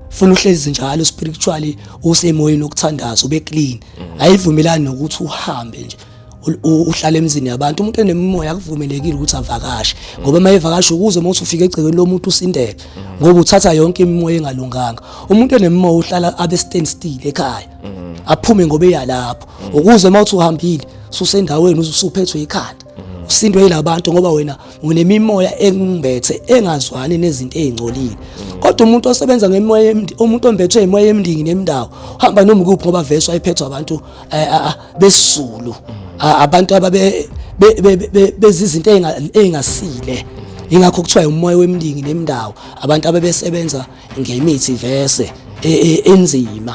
funa uhlezi njalo spiritually usemoyeni okuthandaza ube clean mm. ayivumelani nokuthi uhambe nje uhlala emzini yabantu umuntu enemimoya akuvumelekile ukuthi avakashe ngoba uma evakasha ukuze uma usufika egcekeni lomuntu usindele ngoba uthatha yonke imimoya engalunganga umuntu enemimoya uhlala abe stand still ekhaya aphume ngoba eyalapho ukuze uma uthi uhambile susendaweni usuphethwe ikhanda usindwe yilabantu ngoba wena unemimoya engimbethe engazwani nezinto ezingcolile kodwa umuntu osebenza ngemoya umuntu ombethwe imoya emndingi nemndawo uhamba noma kuphi ngoba veswa iphethwa abantu eh, ah, ah, besizulu ah, abantu ababe bezizinto ezingasile ingakho kuthiwa umoya wemndingi nemndawo abantu abebesebenza ngemithi vese e, e, enzima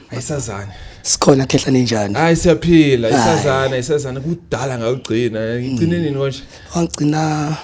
ayisazane sikhona khehla ninjani hayi siyaphila isazana isazana kudala ngawugcina ngigcine nini konje wangigcina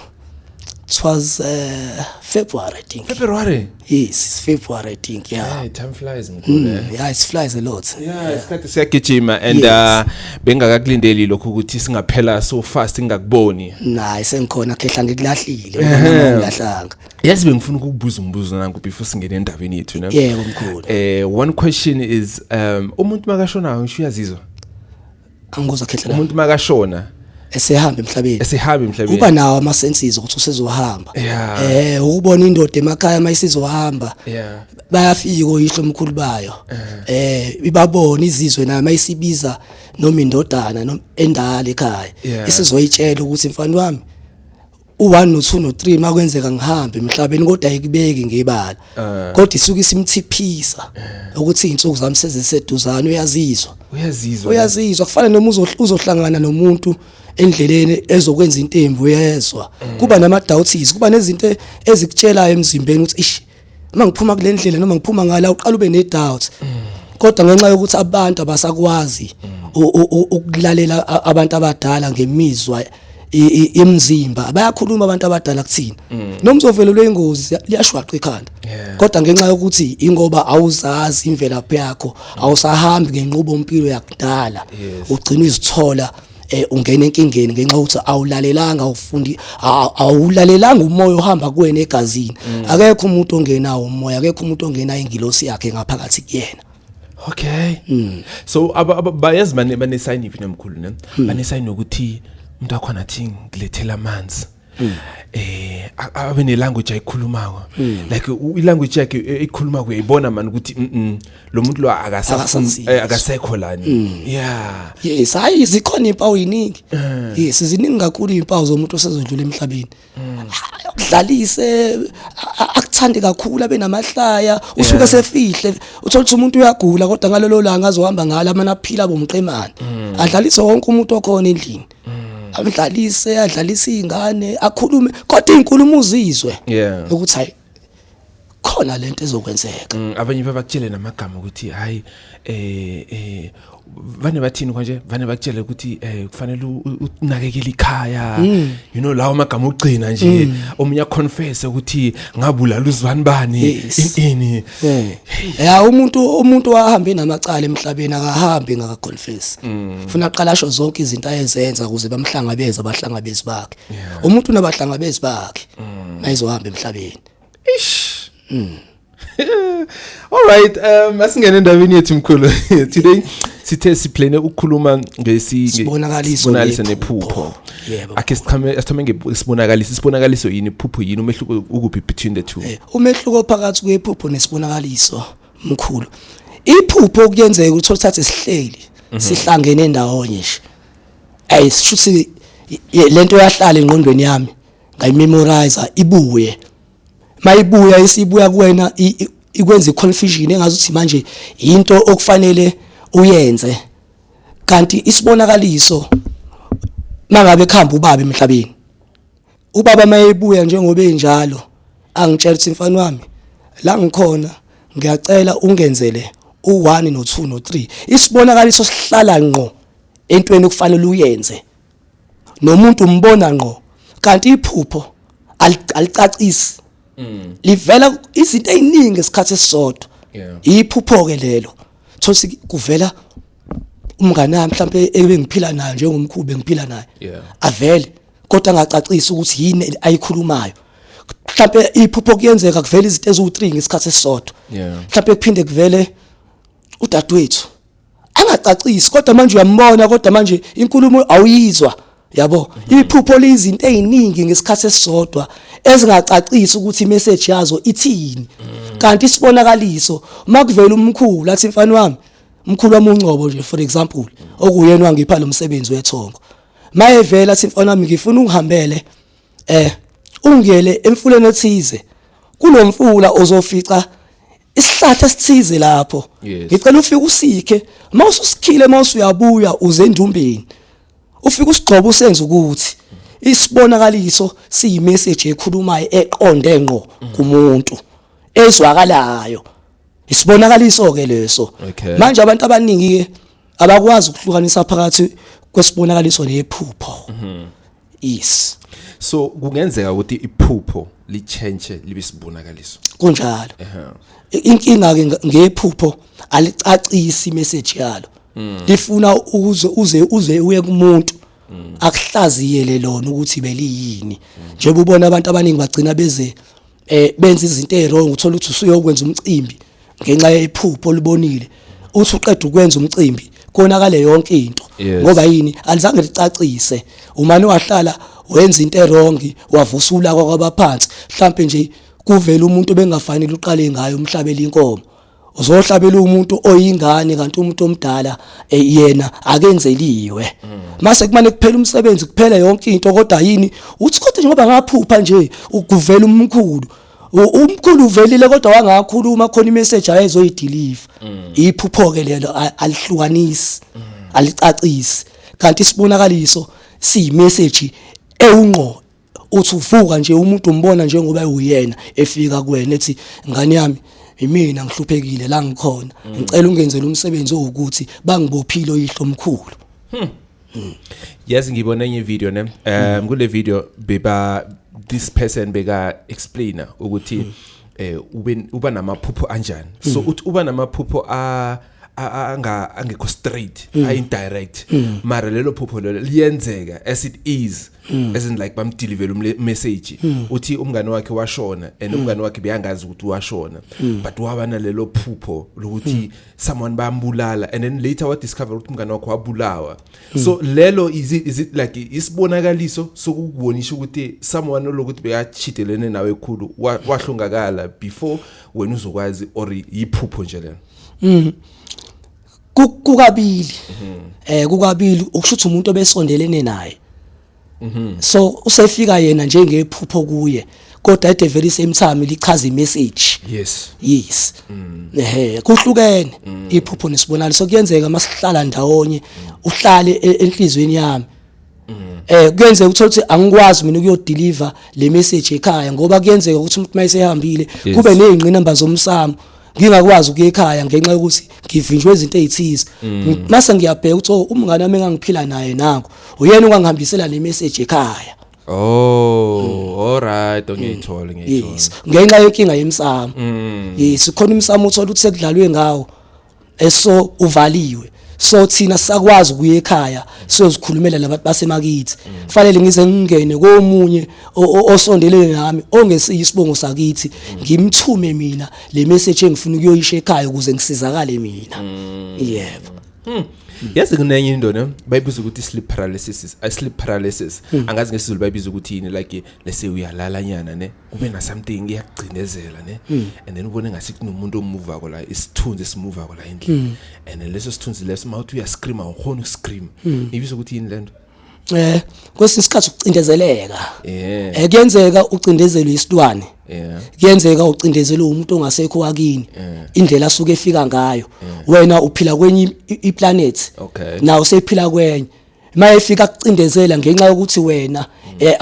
it was uh, February, I think. February? Yes, February, I think, yeah. Yeah, time flies. Mm, yeah, it flies a lot. Yeah, yeah. isikhathi siyagijima and yes. uh, bengakakulindeli lokho ukuthi singaphela so fast ngingakuboni. Nah, isengikhona khehla ngikulahlile, ngikulahlanga. Yes bengifuna ukukubuza umbuzo nanku before singene endabeni yethu ne. Yebo mkhulu. Eh one question is um umuntu makashona ngisho uyazizwa. Angikuzwa khehlela. Umuntu makashona esehamba emhlabeni esehamba emhlabeni uba nawo ama senses ukuthi usezohamba eh ukubona indoda emakhaya mayisizohamba bayafika oyihlo omkhulu bayo eh ibabona izizwe nayo mayisibiza noma indodana noma endala ekhaya isizoyitshela ukuthi mfana wami u-1 no-2 no-3 makwenzeka ngihambe emhlabeni kodwa ayikubeki ngebala eh. kodwa isuke isimthiphisa eh. ukuthi izinsuku zami seziseduzane uyazizwa uyazizwa uyazizwa kufana noma uzohlangana nomuntu endleleni ezokwenza into embi uyezwa eh. kuba nama doubts kuba nezinto ezikutshelayo emzimbeni ukuthi ish uma ngiphuma kule ndlela noma ngiphuma ngala uqala ube ne-doubts kodwa ngenxa yokuthi abantu abasakwazi ukulalela abantu abadala ngemizwa imzimba bayakhuluma abantu abadala kuthina mm. noma uzovelelwa ingozi liyashwaqa ikhanda kodwa ngenxa yokuthi ingoba awuzazi imvelaphi yakho awusahambi ngenqubo mpilo yakudala ugcina izithola eh ungena enkingeni ngenxa ukuthi awulalelanga ufundi awulalelanga umoya ohamba kuwena egazini mm. akekho umuntu ongena umoya akekho umuntu ongena ingilosi yakhe ngaphakathi kuyena okay mm. so bayezi bane bane sign iphi nemkhulu ne mm. bane sign ukuthi umuntu akho nathi ngilethela amanzi mm. eh abe ne language ayikhulumako mm. like i language yakhe eyikhulumako eh, uyayibona man ukuthi mm, mm lo muntu lo akasafuni eh, akasekho lani mm. yeah yes hayi zikhona impawu yiningi eh. yes ziningi kakhulu impawu zomuntu osezondlula emhlabeni mm. udlalise akuthande kakhulu abe namahlaya usuke sefihle uthola ukuthi umuntu uyagula kodwa ngalolo langa azohamba ngalo amana aphila bomqemane adlalise wonke umuntu okhona endlini akudlalise adlalise izingane akhulume kodwa izinkulumo uzizwe Yeah. ukuthi hayi khona lento ezokwenzeka Mm, abanye babakutshele namagama ukuthi hayi eh eh vane bathini konje vane bakutshele ukuthi eh kufanele u- u- unakekele ikhaya Mm. you know lawo magama ogcina nje omunye aconfess ukuthi ngabulala uzibani bani Yes. ini Eh. Ya umuntu umuntu wahambe namacala emhlabeni akahambi ngaka confess. Mm. Funa aqala asho zonke izinto ayezenza ukuze bamhlangabeze abahlangabezi bakhe. Umuntu unabahlangabezi bakhe. Mm. Nayizohamba emhlabeni. Ish. Mm. All right, um asingene endabeni yethu mkhulu. Today sithe siplane ukukhuluma ngesi sibonakaliso nephupho. Yebo. Akhe sichame asithome ngesibonakaliso, isibonakaliso yini iphupho yini umehluko ukuphi between the two? Eh, Umehluko phakathi kwephupho nesibonakaliso mkhulu. Iphupho okuyenzeka ukuthi uthathe sihleli mhm. sihlangene ndawonye nje. Ayi sishuthi lento yahlala engqondweni yami ngayimemorize ibuye. Mayibuya isibuya kuwena ikwenza iconfusion engazi ukuthi manje into okufanele uyenze. Kanti isibonakaliso mangabe khamba ubaba emhlabeni Ubaba mayebuya njengoba enjalo angitshela ukuthi mfana wami la ngikhona ngiyacela ungenzele u1 no2 no3 isibonakaliso sihlala ngqo entweni okufanele uyenze nomuntu umbona ngqo kanti iphupho alicacisi mm. livela izinto eziningi esikhathi esisodwa iphupho ke lelo thosi kuvela umngane wami mhlawumbe ebengiphila naye njengomkhulu bengiphila naye avele kodwa angacacisa ukuthi yini ayikhulumayo mhlawumbe iphupho kuyenzeka kuvela izinto eziwu3 ngesikhathi esisodwa mhlawumbe kuphinde kuvele udadewethu angacacisi kodwa manje uyambona kodwa manje inkulumo awuyizwa yabo mhm. iphupho lizinto eziningi ngesikhathi esisodwa ezingacacisi ukuthi imessage yazo ithini mhm. kanti isibonakaliso makuvela umkhulu athi mfana wami umkhulu wami ungcobo nje for example okuyena wangipha lo msebenzi wethongo mayevela simfana wami ngifuna ungihambele eh ungiyele emfuleni ethize kulomfula ozofica isihlathi esithize lapho ngicela ufike usikhe uma ususikhile uma usuyabuya uze endumbeni ufike usigxoba usenze ukuthi isibonakaliso siyimessage ekhulumayo eqonde ngqo kumuntu ezwakalayo isibonakaliso ke leso manje abantu abaningi ke abakwazi ukuhlukanisa phakathi kwesibonakaliso nephupho mhm. yes so kungenzeka ukuthi iphupho lichange libe sibonakaliso kunjalo inkinga ke ngephupho alicacisi message yalo mm. lifuna ukuze uze uze uye kumuntu mm. akuhlaziyele lona ukuthi beliyini mm. njengoba ubona abantu abaningi bagcina beze eh benza izinto ezirong uthola ukuthi usuyokwenza umcimbi ngenxa yephupho olibonile uthi uqeda ukwenza umcimbi konakale yonke into Yes. ngoba yini alizange licacise umane wahlala wenza into erongi wavusula kwabaphansi mhlambe nje kuvela umuntu bengafanele uqale ngayo umhlabela inkomo uzohlabela umuntu oyingane kanti umuntu omdala eh, yena akenzeliwe mase kumane kuphela umsebenzi kuphela yonke into kodwa yini uthi kodwa ngoba ngaphupha nje ukuvela umkhulu umkhulu uvelile kodwa wangakhuluma khona imessage ayezoyideliver mm. iphupho ke lelo alihlukanisi mm. alicacisi kanti isibonakaliso siyimessage ewungqo uthi uvuka nje umuntu umbona njengoba ewuyena efika kuwena ethi ngane yami imina ngihluphekile la ngikhona mm. ngicela ungenzele umsebenzi owukuthi bangibophile oyihlo omkhulu hmm. hmm. yazi ngibona enye video ne um kule video beba this person beka explainer ukuthi hmm. eh uba namaphupho anjani so uthi uba namaphupho a uh, anga angekho straight mm. i indirect mm. mara lelo phupho lelo liyenzeka as it is mm. as in like bamdelivela umessage mm. uthi umngane wakhe washona and mm. umngane wakhe beyangazi ukuthi washona mm. but waba nalelo phupho lokuthi mm. someone bambulala and then later wa discover ukuthi umngane wakhe wabulawa mm. so lelo is it, is it like isibonakaliso sokukubonisha ukuthi someone lokuthi beyachitelene nawe ekhulu wahlongakala before wena uzokwazi or yiphupho nje lelo Mm. Kukabili. Mhm. Eh kukabili ukushuthi umuntu obesondelene naye. Mhm. So usefika yena njengephupho kuye. kodwa at the very same time lichaza imessage yes yes mm. ehe kuhlukene mm. iphupho nesibonalo so kuyenzeka masihlala ndawonye mm. uhlale e-, enhlizweni yami eh kuyenzeka uthola ukuthi angikwazi mina ukuyodeliver le message ekhaya ngoba kuyenzeka ukuthi umuntu mayesehambile kube nezingqinamba zomsamo ngingakwazi ukuya ekhaya ngenxa yokuthi ngivinjwe izinto ezithize mm. mase ngiyabheka ukuthi oh, umngane wami engangiphila naye nako uyena ongangihambisela le message ekhaya Oh, mm. all right, ngiyithola mm. ngiyithola. Yes. Ngenxa yenkinga yemsamo. Mm. Yes, khona umsamo uthola ukuthi sekudlalwe ngawo. Eso uvaliwe. so thina sakwazi ukuya ekhaya siyozikhulumela labantu basemakithi fanele ngize ngingene komunye osondelene nami ongesiyi isibongo sakithi ngimthume mina le message engifuna ukuyoyisha ekhaya ukuze ngisizakale mina mm. yebo hmm. yazi kunenye into ne bayibiza ukuthi sleep paralysis i sleep paralysis hmm. angazi ngesizulu bayibiza ukuthi yini like lese uyalala nyana ne ube na something iyakugcinezela ne mm. and then ubone ngathi kunomuntu omuva ko la isithunzi simuva ko la endlini mm. and then leso sithunzi leso mawuthi uya scream awukhona ukuscream mm. ibizo ukuthi yini lento eh kwesinye isikhathi ukucindezeleka yeah. eh kuyenzeka ucindezelwe isilwane yeah. kuyenzeka ucindezelwe umuntu ongasekho wakini yeah. indlela asuke efika ngayo yeah. wena uphila kwenye iplanet okay. nawo sephila kwenye maye fika kucindezela ngenxa yokuthi wena eh,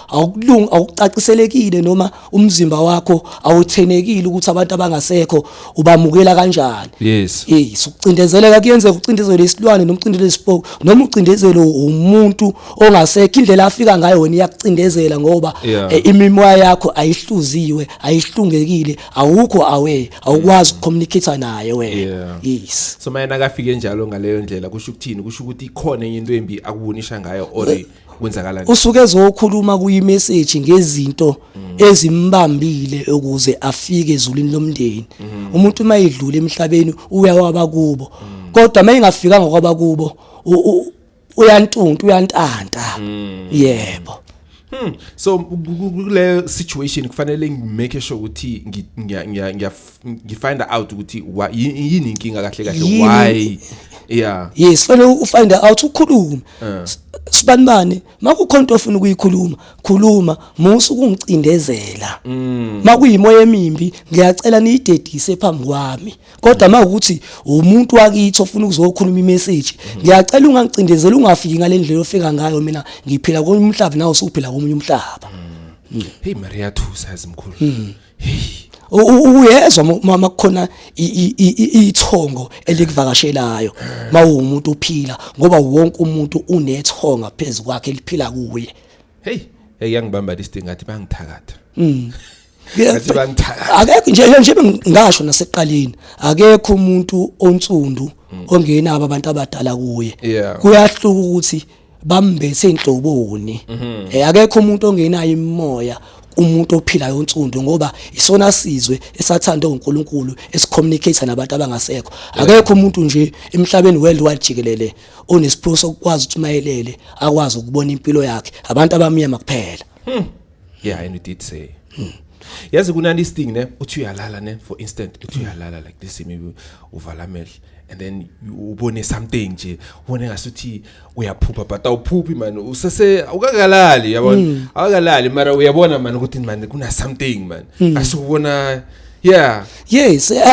awukulungi awucaciselekile noma umzimba wakho awuthenekile ukuthi abantu abangasekho ubamukela kanjani yes yes ukucindezeleka kuyenzeka ucindezele isilwane noma ucindezele isipoko noma ucindezele umuntu ongasekho indlela afika ngayo wena iyakucindezela ngoba eh, imimoya yakho ayihluziwe ayihlungekile awukho away awukwazi ukucommunicate naye wena yes so mayena akafike njalo ngaleyo ndlela kusho ukuthini kusho ukuthi ikhona enye into embi akubonisha ngayo or eh, kwenzakala usuke ezokhuluma kuyi message ngezinto mm. ezimbambile ukuze afike ezulwini lomndeni mm. umuntu uma edlula emhlabeni uyawaba kubo mm. kodwa mayengafika ngokwaba kubo uyantunta uyantanta hmm. yebo Hmm. So kule situation kufanele ngimake sure ukuthi ngiya ngiya ngifind out ukuthi yini inkinga kahle kahle why yeah yes fanele ufind out ukhulume eh. sibanibani makukhona into ofuna ukuyikhuluma khuluma musu kungicindezela hmm. makuyimoya emimbi ngiyacela niyidedise phambi kwami kodwa uma ukuthi umuntu wakithi ofuna ukuzokhuluma imessage ngiyacela ungangicindezeli ungafiki ngale ndlela ofika ngayo mina ngiphila komunye umhlaba nawe usuphila komunye umhlaba mm. hey maria thusa ezimkhulu mm. hey uyezwa mama kukhona ithongo elikuvakashelayo mawumuntu uphila ngoba wonke umuntu unethonga phezulu kwakhe liphila kuye hey eyangibamba lisidingathi bangithakatha mm. Ngathi bangithanda. akekho nje nje- nje ngasho naseqaleni akekho umuntu onsundu ongenabo abantu abadala kuye Mm. Yeah. kuyahluka ukuthi bambethe inhloboni Mhm. eh akekho umuntu ongenayo imimoya umuntu ophilayo onsundu ngoba isona sizwe esathandwe uNkulunkulu esicommunicate nabantu abangasekho akekho umuntu nje emhlabeni worldwide jikelele onesiphiwo sokwazi ukuthi mayelele akwazi ukubona impilo yakhe abantu abamnyama kuphela yeah and you did say hmm. yazi kunani sting ne uthi uyalala ne for instant uthi hmm. uyalala like this maybe uvala amehlo and then ubone something nje ubone ngasuthi uyaphupha but awuphuphi man usese ukakalali yabona hmm. awukalali mara uyabona man ukuthi man kuna something man asubona yeah yes eh,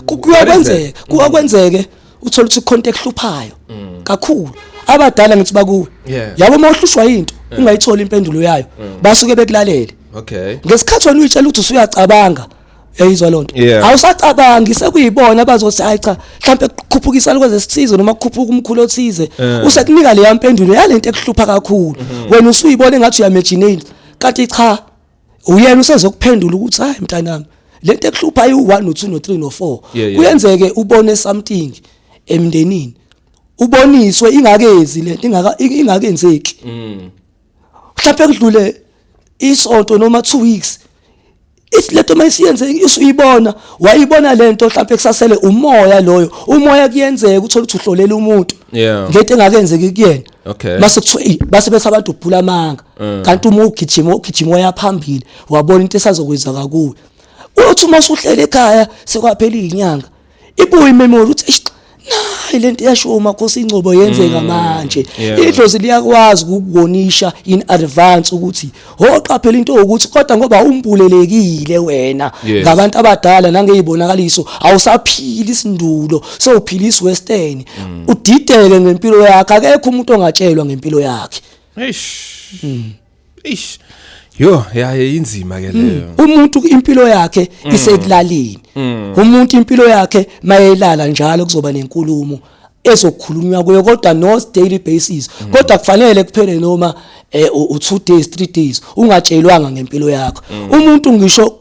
kuyakwenzeka kuyakwenzeke uthola ukuthi khonto ekuhluphayo mm. kakhulu abadala ngithi bakuwe yabo uma uhlushwa into ungayithola impendulo yayo mm. basuke bekulalele okay ngesikhathi wena uyitshela ukuthi usuyacabanga yayizwa lonto awusacabangi sekuyibona bazothi hayi cha mhlawumbe kukhuphukisa lokho zesithize noma kukhuphuka umkhulu othize eh. usekunika leya mpendulo yalento ekuhlupha kakhulu mm-hmm. wena usuyibona engathi uyamejinate kanti cha uyena usezokuphendula ukuthi hayi mntanami lento ekuhlupha ayi u1 no2 no3 no4 kuyenzeke ubone something emndenini uboniswe ingakezi lento ingaka ingakenzeki mm. mhlawumbe kudlule isonto noma 2 weeks if lento mayisiyenze isuyibona wayibona lento mhlawumbe kusasele umoya loyo umoya kuyenzeka uthola ukuthi uhlolela umuntu ngento engakenzeki kuyena okay base kuthiwa base bethi abantu ubhula amanga eh. kanti uma ugijima ugijima wayaphambili wabona into esazokwenza kakuwe uthi uma usuhlele ekhaya sekwaphela izinyanga ibuye imemory uthi nayi lento yasho umakhosi ingcobo yenzeka mm, manje idlozi liyakwazi ukukubonisha in advance ukuthi Hoqaphela into ukuthi kodwa ngoba umbulelekile wena Yes. ngabantu abadala nangeyibonakaliso awusaphili isindulo sewuphila iswestern Mm. udideke ngempilo yakhe akekho umuntu ongatshelwa ngempilo yakhe Eish. Eish. Yo, yaye inzima ke leyo. umuntu impilo yakhe isekulaleni umuntu impilo yakhe mayelala njalo kuzoba nenkulumo ezokhulunywa kuyo kodwa not daily basis mm. kodwa kufanele kuphele noma eh, u 2 days 3 days ungatshelwanga ngempilo yakho mm. umuntu ngisho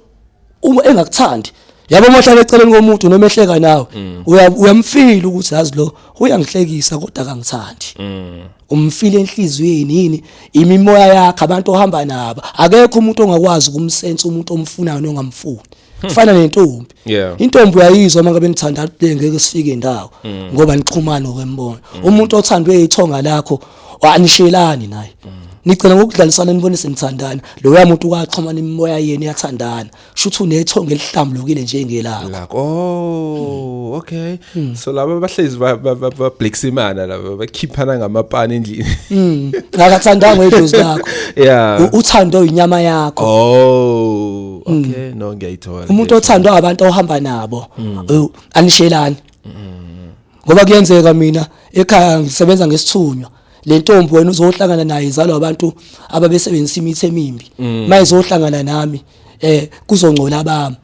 uma engakuthandi yabo mahlala eceleni komuntu noma ehleka nawe mm. uyamfila ukuthi yazi lo uyangihlekisa kodwa akangithandi mm. umfile enhliziyweni yini imimoya yakhe abantu ohamba nabo akekho umuntu ongakwazi ukumsensa umuntu omfunayo nongamfuni kufana nentombi Yeah. intombi uyayizwa uma ngabe nithanda le ngeke sifike indawo Mm. ngoba nixhumana okwembono umuntu othandwe ithonga lakho anishelani naye Mm. nigcina ngokudlalisana nibone senithandana loya muntu kwaxhumana imimoya yenu yathandana shuthi unethonga elihlambulukile njengelakho lakho oh okay Hmm. so laba bahlezi ba- ba- ba- babhleksimana laba bakhiphana ngamapani endlini Mm. akathandanga idlozi lakho yeah U- uthando inyama yakho oh okay no ngiyayithola umuntu othandwa abantu ohamba nabo mm. oh, anishelani mm. ngoba kuyenzeka mina ekhaya ngisebenza ngesithunywa le ntombi wena uzohlangana naye izalwa abantu ababesebenzisa imithi emimbi mm. mayizohlangana nami eh kuzongcola bami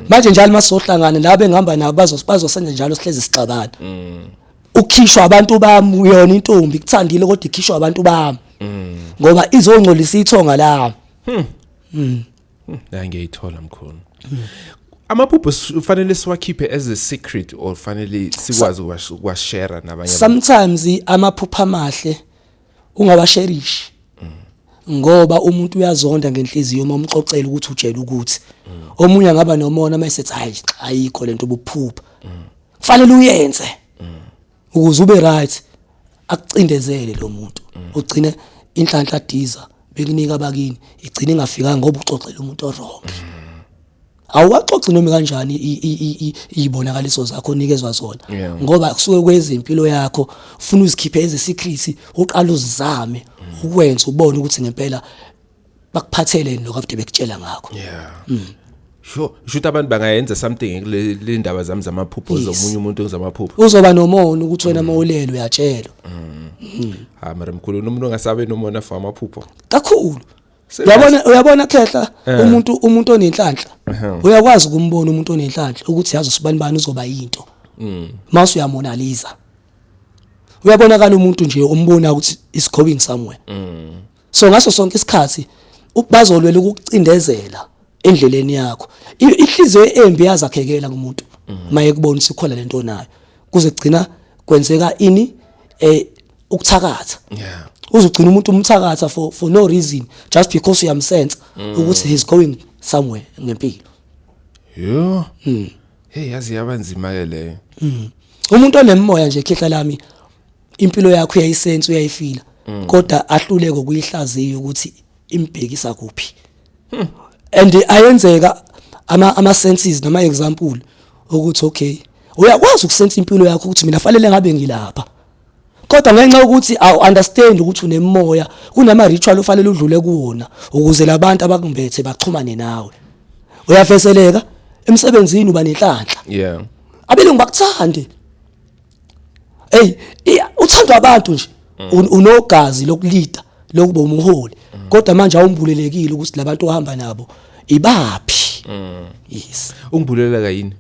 manje njalo masohlangana la bengihamba nabo bazosenza njalo sihlezi sixabana ukhishwa abantu bami uyona intombi kuthandile kodwa ikhishwa abantu bami ngoba izongcolisa ithonga lami hmm. mm. la ngiyayithola mkhulu mm. amaphupho ufanele siwakhiphe as a secret or fanele sikwazi ukwashare nabanye sometimes amaphupho amahle ungawasherishi ngoba umuntu uyazonda ngenhliziyo uma umxoxela ukuthi utshela ukuthi omunye angaba nomona uma esethi hayi ayikho lento ubuphupha kufanele uyenze ukuze ube right akucindezele lo muntu ugcine inhlanhla diza bekunika abakini igcine ingafika ngoba uxoxela umuntu orong awuwaxoxi noma kanjani izibonakaliso zakho onikezwa zona ngoba kusuke kwezimpilo yakho ufuna uzikhiphe eze secret uqala uzizame ukwenza ubone ukuthi ngempela bakuphatheleni lokho abade bekutshela ngakho yeah mm. sho shuthi abantu bangayenza something kule ndaba zami zamaphupho yes. zomunye umuntu ngizamaphupho uzoba nomona ukuthi wena mm. mawulelo uyatshelwa mm. mm. ha mara mkhulu umuntu ongasabe nomona for amaphupho kakhulu Uyabona uyabona khehla eh. umuntu umuntu onenhlanhla uyakwazi ukumbona umuntu onenhlanhla ukuthi yazi usibani bani uzoba yinto mm. mase uyamonaliza uyabonakala umuntu nje umbona ukuthi is going somewhere mm. so ngaso sonke isikhathi bazolwela ukucindezela endleleni yakho ihliziyo embi yazakhekela kumuntu mhm. maye kubona sikhona lento onayo kuze kugcina kwenzeka ini eh ukuthakatha yeah uzogcina umuntu umthakatha for for no reason just because uyamsense mm. ukuthi he's going somewhere ngempilo yo mm. hey yazi yabanzima ke leyo mm. umuntu onemoya nje khehla lami impilo yakho uyayisense uyayifila mm. kodwa ahluleke ukuyihlaziya ukuthi imbhekisa kuphi hmm. and ayenzeka ama ama senses noma example ukuthi okay uyakwazi ukusensa impilo yakho ukuthi mina fanele ngabe ngilapha kodwa ngenxa yokuthi awu understand ukuthi unemoya kunama ritual ofanele udlule kuwona ukuze labantu abakumbethe baxhumane nawe uyafeseleka emsebenzini uba nenhlanhla yeah abelungu bakuthande hey uthandwa abantu nje mm. unogazi lokulida lokuba umholi mm. kodwa manje awumbulelekile ukuthi labantu ohamba nabo ibaphi mm. yes ungibuleleka yini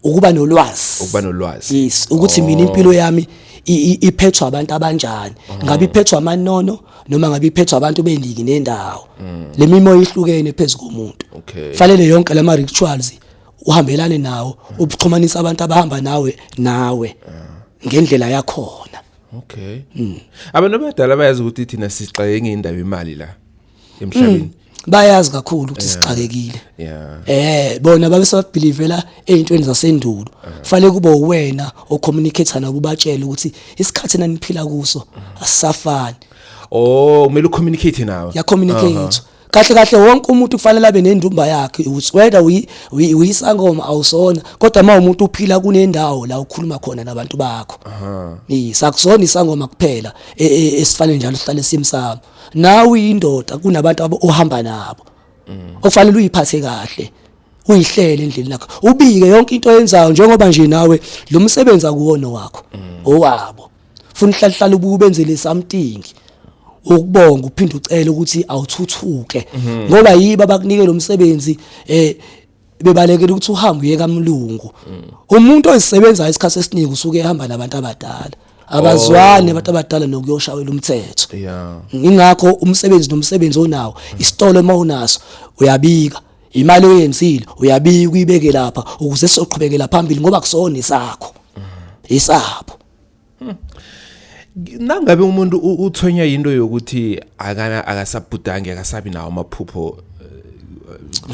ukuba nolwazi ukuba nolwazi yes ukuthi mina oh. impilo yami iphethwa abantu abanjani oh. ngabe iphethwa amanono noma ngabe iphethwa abantu bendiki nendawo lemimoya ihlukene phezukomuntu fanele yonke lama rituals uhambelane nawo ubuxhumanisa abantu abahamba nawe nawe ngendlela yakhona okay mm. abantu abadala bayazi ukuthi thina sixake ngendaba imali la emhlabeni mm. bayazi kakhulu ukuthi sixakekile eh bona babe sebabelivela ezintweni zasendulo fanele kube uwena ocommunicate nabo ubatshela ukuthi isikhathi naniphila kuso asisafani oh kumele ucommunicate nawe ya communicate kahle kahle wonke umuntu kufanele abe nendumba yakhe whether uyisangoma awusona kodwa uma umuntu uphila kunendawo la ukhuluma khona nabantu bakho sakusona isangoma kuphela e, e, esifanele njalo sihlale simsamo nawe uyindoda kunabantu abo ohamba nabo mm. okufanele uyiphathe kahle uyihlele endlini lakho ubike yonke into oyenzayo njengoba nje nawe lo msebenzi akuwona wakho mm. owabo funa uhlalihlala ubuke ubenzele something ukubonga uphinde ucele ukuthi awuthuthuke mhm. ngoba yiba bakunike lo msebenzi eh bebalekela ukuthi uhambe uye kamlungu mm. umuntu ozisebenzayo isikhathi esiningi usuke ehamba nabantu abadala abazwani oh. abantu abadala nokuyoshawela umthetho ingakho umsebenzi nomsebenzi onawo mm. isitolo uma unaso uyabika imali oyenzile uyabika uyibeke lapha ukuze sizoqhubekela phambili ngoba kusona isakho mm. isabo Hmm. Nangabe umuntu uthonywa into yokuthi akana akasabhudange akasabi nawo amaphupho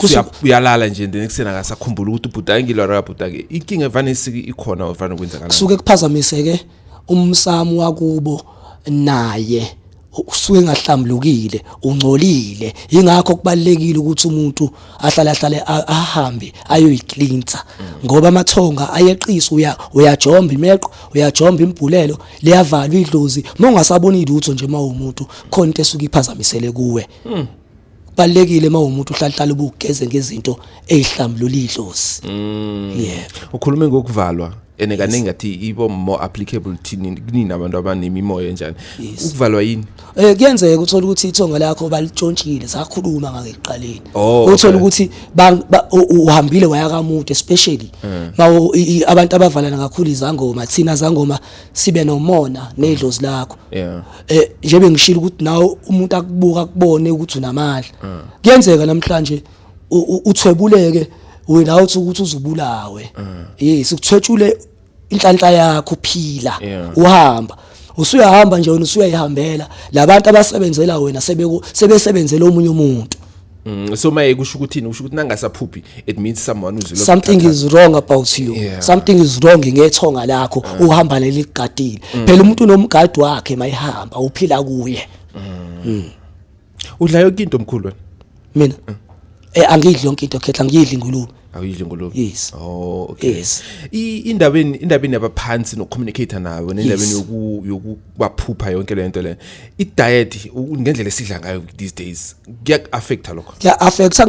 eh, uyalala nje then ekuseni akasakhumbula ukuthi ubhudangile or akabhudange inkinga evane ikhona ovane kwenzakala kusuke kuphazamiseke umsamo wakubo naye usuke engahlambulukile ungcolile ingakho kubalekile ukuthi umuntu ahlale ahlale ahambe ayoyicleansa ngoba amathonga ayeqisa uya uyajomba imeqo uyajomba imbhulelo liyavalwa idlozi uma ungasaboni lutho nje uma umuntu khona into esuke iphazamisele kuwe hmm. kubalekile uma umuntu uhlahlala ubugeze ngezinto ezihlambulula idlozi mm. yeah ukhulume ngokuvalwa ene kaningi ngathi ibo more applicable thini kunini abantu abanemimoya enjani ukuvalwa yini eh kuyenzeka uthola ukuthi ithonga lakho balitshontshile sakhuluma ngake kuqaleni oh, uthola ukuthi uhambile waya kamude especially eh. mawo abantu abavalana kakhulu izangoma thina zangoma sibe nomona nedlozi lakho yeah eh njebe ngishilo ukuthi nawe umuntu akubuka kubone ukuthi unamali mm. kuyenzeka namhlanje uthwebuleke without ukuthi uzubulawe mm. yes ukuthwetshule inhlanhla yakho uphila uhamba usuyahamba nje wena usuyayihambela labantu abasebenzela wena sebesebenzela omunye umuntu Mm, so maye kusho ukuthini kusho ukuthi nangasaphuphi it means someone uzilo something is wrong about you yeah. something is wrong ngethonga lakho mm. uhamba leli gadile mm. phela umuntu unomgadi wakhe mayihamba uphila kuye mm. mm. udla yonke into omkhulu wena mina mm. eh angidli yonke into khetha ngidli ingulube awuyidli ngolobi yes oh okay yes indabeni indabeni yabaphansi no communicator nawe nendabeni yoku yoku baphupha yonke le nto le i-diet ngendlela esidla ngayo these days kuya-affecta lokho kuya-affecta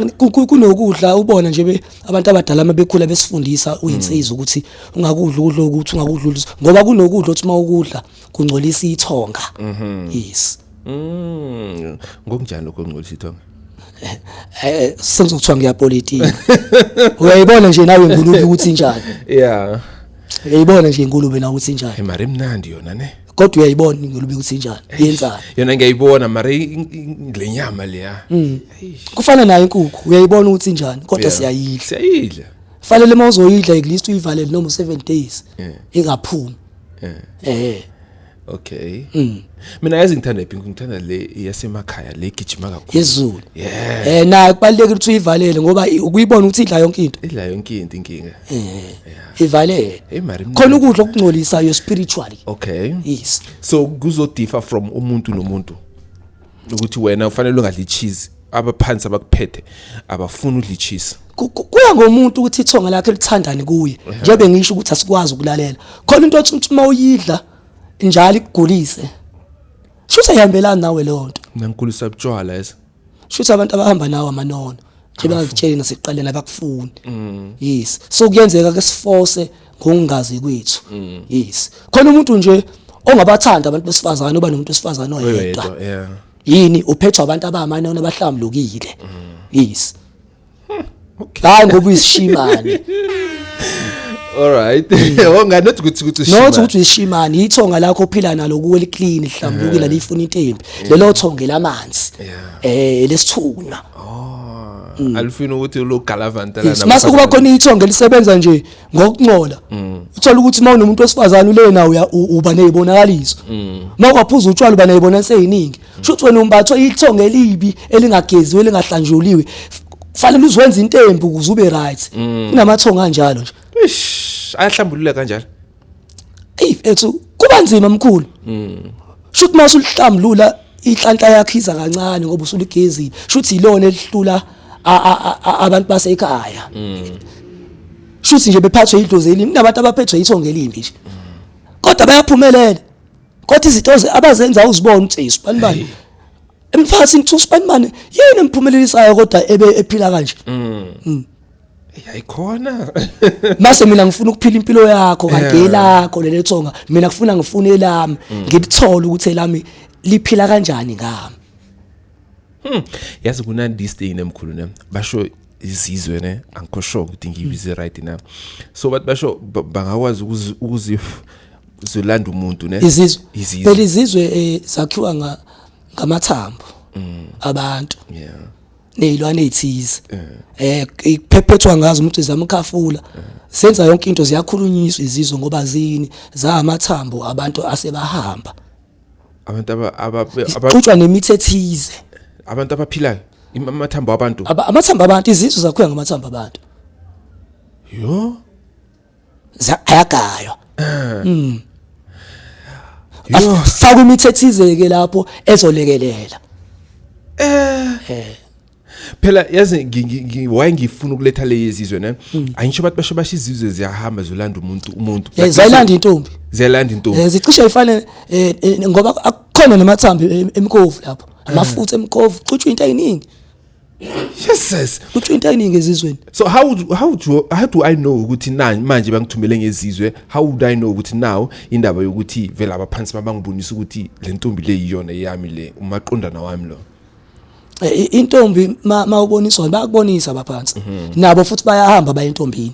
kunokudla ubona nje abantu abadala uma bekhula besifundisa uyinsiza mm. ukuthi ungakudla ukudla ukuthi ungakudla ngoba kunokudla ukuthi uma ukudla kungcolisa ithonga mm-hmm. yes mm. ngokunjani lokho kungcolisa ithonga eh sengizokuthiwa ngiyapolitika uyayibona nje nawe ngulube ukuthi njani yeah uyayibona nje ngulube na ukuthi njani hey mari mnandi yona ne kodwa uyayibona ngilube ukuthi njani yenzani yona ngiyayibona mara lenyama leya mm. kufana nayo inkukhu uyayibona ukuthi njani kodwa siyayidla siyayidla fanele uma uzoyidla at least uyivalele noma 7 days ingaphumi eh Okay. Mm. Mina yazi ngithanda iphi ngithanda le yasemakhaya le gijima kakhulu. Yezulu. Yeah. Eh na kubalekile ukuthi uyivalele ngoba ukuyibona ukuthi idla yonke into. Idla yonke into inkinga. Eh. Yeah. Ivalele. Hey mari. Khona ukudla okungcolisayo spiritually. Okay. Yes. So kuzodifa from umuntu nomuntu. ukuthi wena ufanele ungadli cheese abaphansi abakuphethe abafuni udli cheese kuya ngomuntu ukuthi ithonga lakhe lithandani kuye njengoba ngisho ukuthi asikwazi ukulalela khona into othi uma uyidla njalo ikugulise shuthi ayihambelani nawe leyo nto nankulisa butshwala esa shuthi abantu abahamba nawo amanono nje bangakutsheli nasekuqaleni abakufuni mm. yes so kuyenzeka ke siforce ngokungazi kwethu mm. yes khona umuntu nje ongabathanda abantu besifazane oba nomuntu wesifazane oyedwa yini uphethwa abantu abamane onabahlambulukile mm. yes hmm, hayi ngoba uyisishimane Alright. Wonga not ukuthi ukuthi ushimane. Not ukuthi ushimane, ithonga lakho ophila nalo kuwe liclean, lihlambukile lifuna intembi. Lelo thonge lamanzi. Eh lesithunywa. Oh. Mm. Alifuna ukuthi lo galavantela nabo. Mase kuba khona ithonga elisebenza nje ngokuncola mm. uthola ukuthi uma unomuntu wesifazane ule nawo uba nezibonakaliso mm. uma kwaphuza utshwala uba nezibona seyiningi mm. shuthi wena umbathwe ithonga elibi elingageziwe elingahlanjuliwe fanele uzwenza intembi ukuze ube right kunamathonga kanjalo nje ayahlambulula kanjalo ey ethu kuba nzima mkhulu Shuthi uma usulihlambulula inhlanhla yakhe iza kancane ngoba usuligezile. Shuthi ilona elihlula abantu basekhaya. Shuthi nje bephathwe idlozi elimbi nabantu abaphethwe ithonga elimbi nje. Kodwa bayaphumelela. Kodwa izinto abazenza uzibona ukuthi isibani bani. Emphakathini kuthiwa usibani bani yini emphumelelisayo kodwa ebe ephila kanje. Mm. mm. yayikhona mase mina ngifuna ukuphila impilo yakho kanti yelakho leli thonga mina ngifuna ngifune elami mm. ngilithole ukuthi elami liphila kanjani ngami hmm yazi kuna this thing nemkhulu ne basho izizwe ne angikho sure ukuthi ngiyibize right na so but basho bangakwazi ukuzi uzolanda umuntu ne izizwe izizwe lezizwe eh, zakhiwa ngamathambo mm. abantu yeah nezilwane ezithize eh ikuphephethwa ngazo umuntu zamkhafula senza yonke into ziyakhulunyiswa izizwe ngoba zini zahamathambo abantu asebahamba abantu abaxutshwa nemithi ethize abantu abaphilayo amathambo abantu amathambo abantu izizwe zakhuya ngamathambo abantu yo Za- ayagaywa Mm. afakwe imithethizeke lapho ezolekelela phela yazi ngi- ngi- ngi- why ngifuna ukuletha le yezizwe ne angisho abantu basho basho izizwe ziyahamba zolanda umuntu umuntu Eh, zayilanda intombi ziyalanda intombi Eh, zicishe ifane eh, eh, ngoba akukhona namathambi em- emkovu lapho amafutha emkovu kuchutshwa into eyiningi Jesus kuthiwa into eningi ezizweni so how would, how would you, how do i know ukuthi na manje bangithumele ngezizwe how would i know ukuthi now indaba yokuthi vela abaphansi babangibonisa ukuthi le ntombi le yiyona eyami le umaqondana wami lo Eh, intombi ma uboniswa bayakubonisa abaphansi mhm. nabo futhi bayahamba bayentombini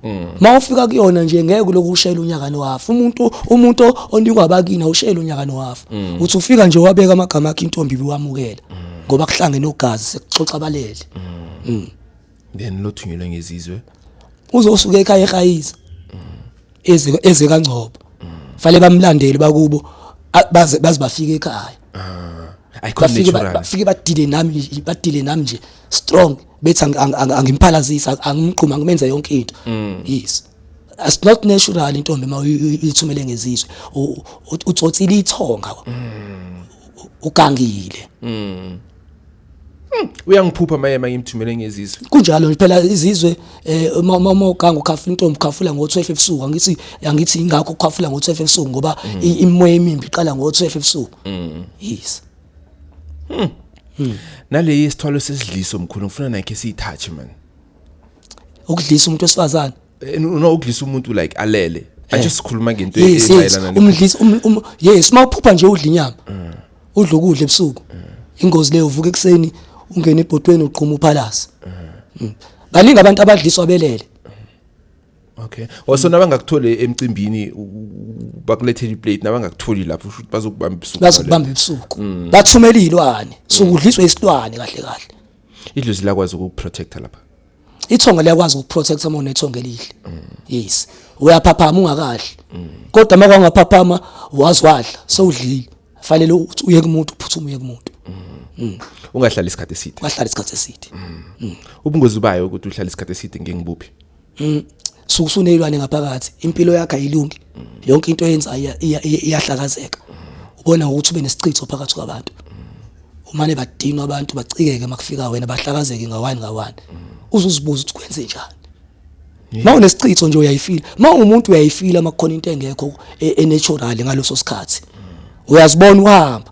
Mm. Uma ufika kuyona nje ngeke lokhu ushayela unyaka nohafu. Umuntu umuntu onikwa abakini awushayela unyaka nohafu. Mm. Uthi ufika nje wabeka amagama akhe intombi biwamukela mm. ngoba kuhlangene ogazi sekuxoxa balele. Then lothunyelwe ngezizwe. Uzosuka ekhaya ehayisa. Eze eze kangcobo. Fale bamlandele bakubo baze baze bafike ekhaya. Ah. Ayikho natural. Bafike badile nami badile nami nje strong. Mm. bethi angimphalazisi angimqhuma ngimenze yonke into mm. yes as not natural intombi uma uyithumele ngezizwe utsotsile ithonga mm. ugangile mm. Hmm, uyangiphupha maye mangimthumele ngezizwe kunjalo phela izizwe eh, uma uma uganga ukhafu intombi ukhafula ngo12 ebusuku angithi angithi ingakho ukhafula ngo12 ebusuku ngoba hmm. imoya emimbi iqala ngo12 ebusuku hmm. yes Hmm. Hmm. Nale isithwalo sesidliso mkhulu ngifuna nakhe siyithathe man. Ukudlisa umuntu wesifazane. Eh, no ukudlisa umuntu like alele. Eh. Anje sikhuluma ngento eyimayelana ne. Umdlisa um, um yes uma uphupha nje udla inyama. Hmm. Udla ukudla ebusuku. Ingozi leyo uvuka ekseni ungena ebhodweni uqhuma uphalasa. Baningi abantu abadliswa belele. Okay. Also nabangakuthole emcimbini bakulethele iplate nabangakutholi lapho usho ukuthi bazokubamba ibusuku. Bazokubamba ibusuku. Mm. Bathumela izilwane. So mm. kudliswa isilwane kahle kahle. Idlozi lakwazi ukuprotect lapha. Ithonga liyakwazi ukuprotect uma unethonga elihle. Mm. Yes. Uyaphaphama ungakahle. Kodwa uma kwangaphaphama wazi wadla sewudlile. Fanele ukuthi uye kumuntu uphuthume uye kumuntu. Ungahlala isikhathi eside. Ungahlala isikhathi eside. Ubungozi bayo ukuthi uhlala isikhathi eside ngengibuphi? Mm. Suku sunezilwane ngaphakathi, impilo yakhe ayilungi. Yonke into oyenzayo iyahlakazeka. Ubona ngokuthi ube nesichitho phakathi kwabantu. Umane badinwa abantu bacikeke makufika wena bahlakazeke ngawani ngawani. Uzuzibuza ukuthi kwenze njani. Uma unesichitho nje uyayifila. Uma ungumuntu uyayifila makukhona into engekho e, enatural ngaloso sikhathi. Uyazibona uhamba.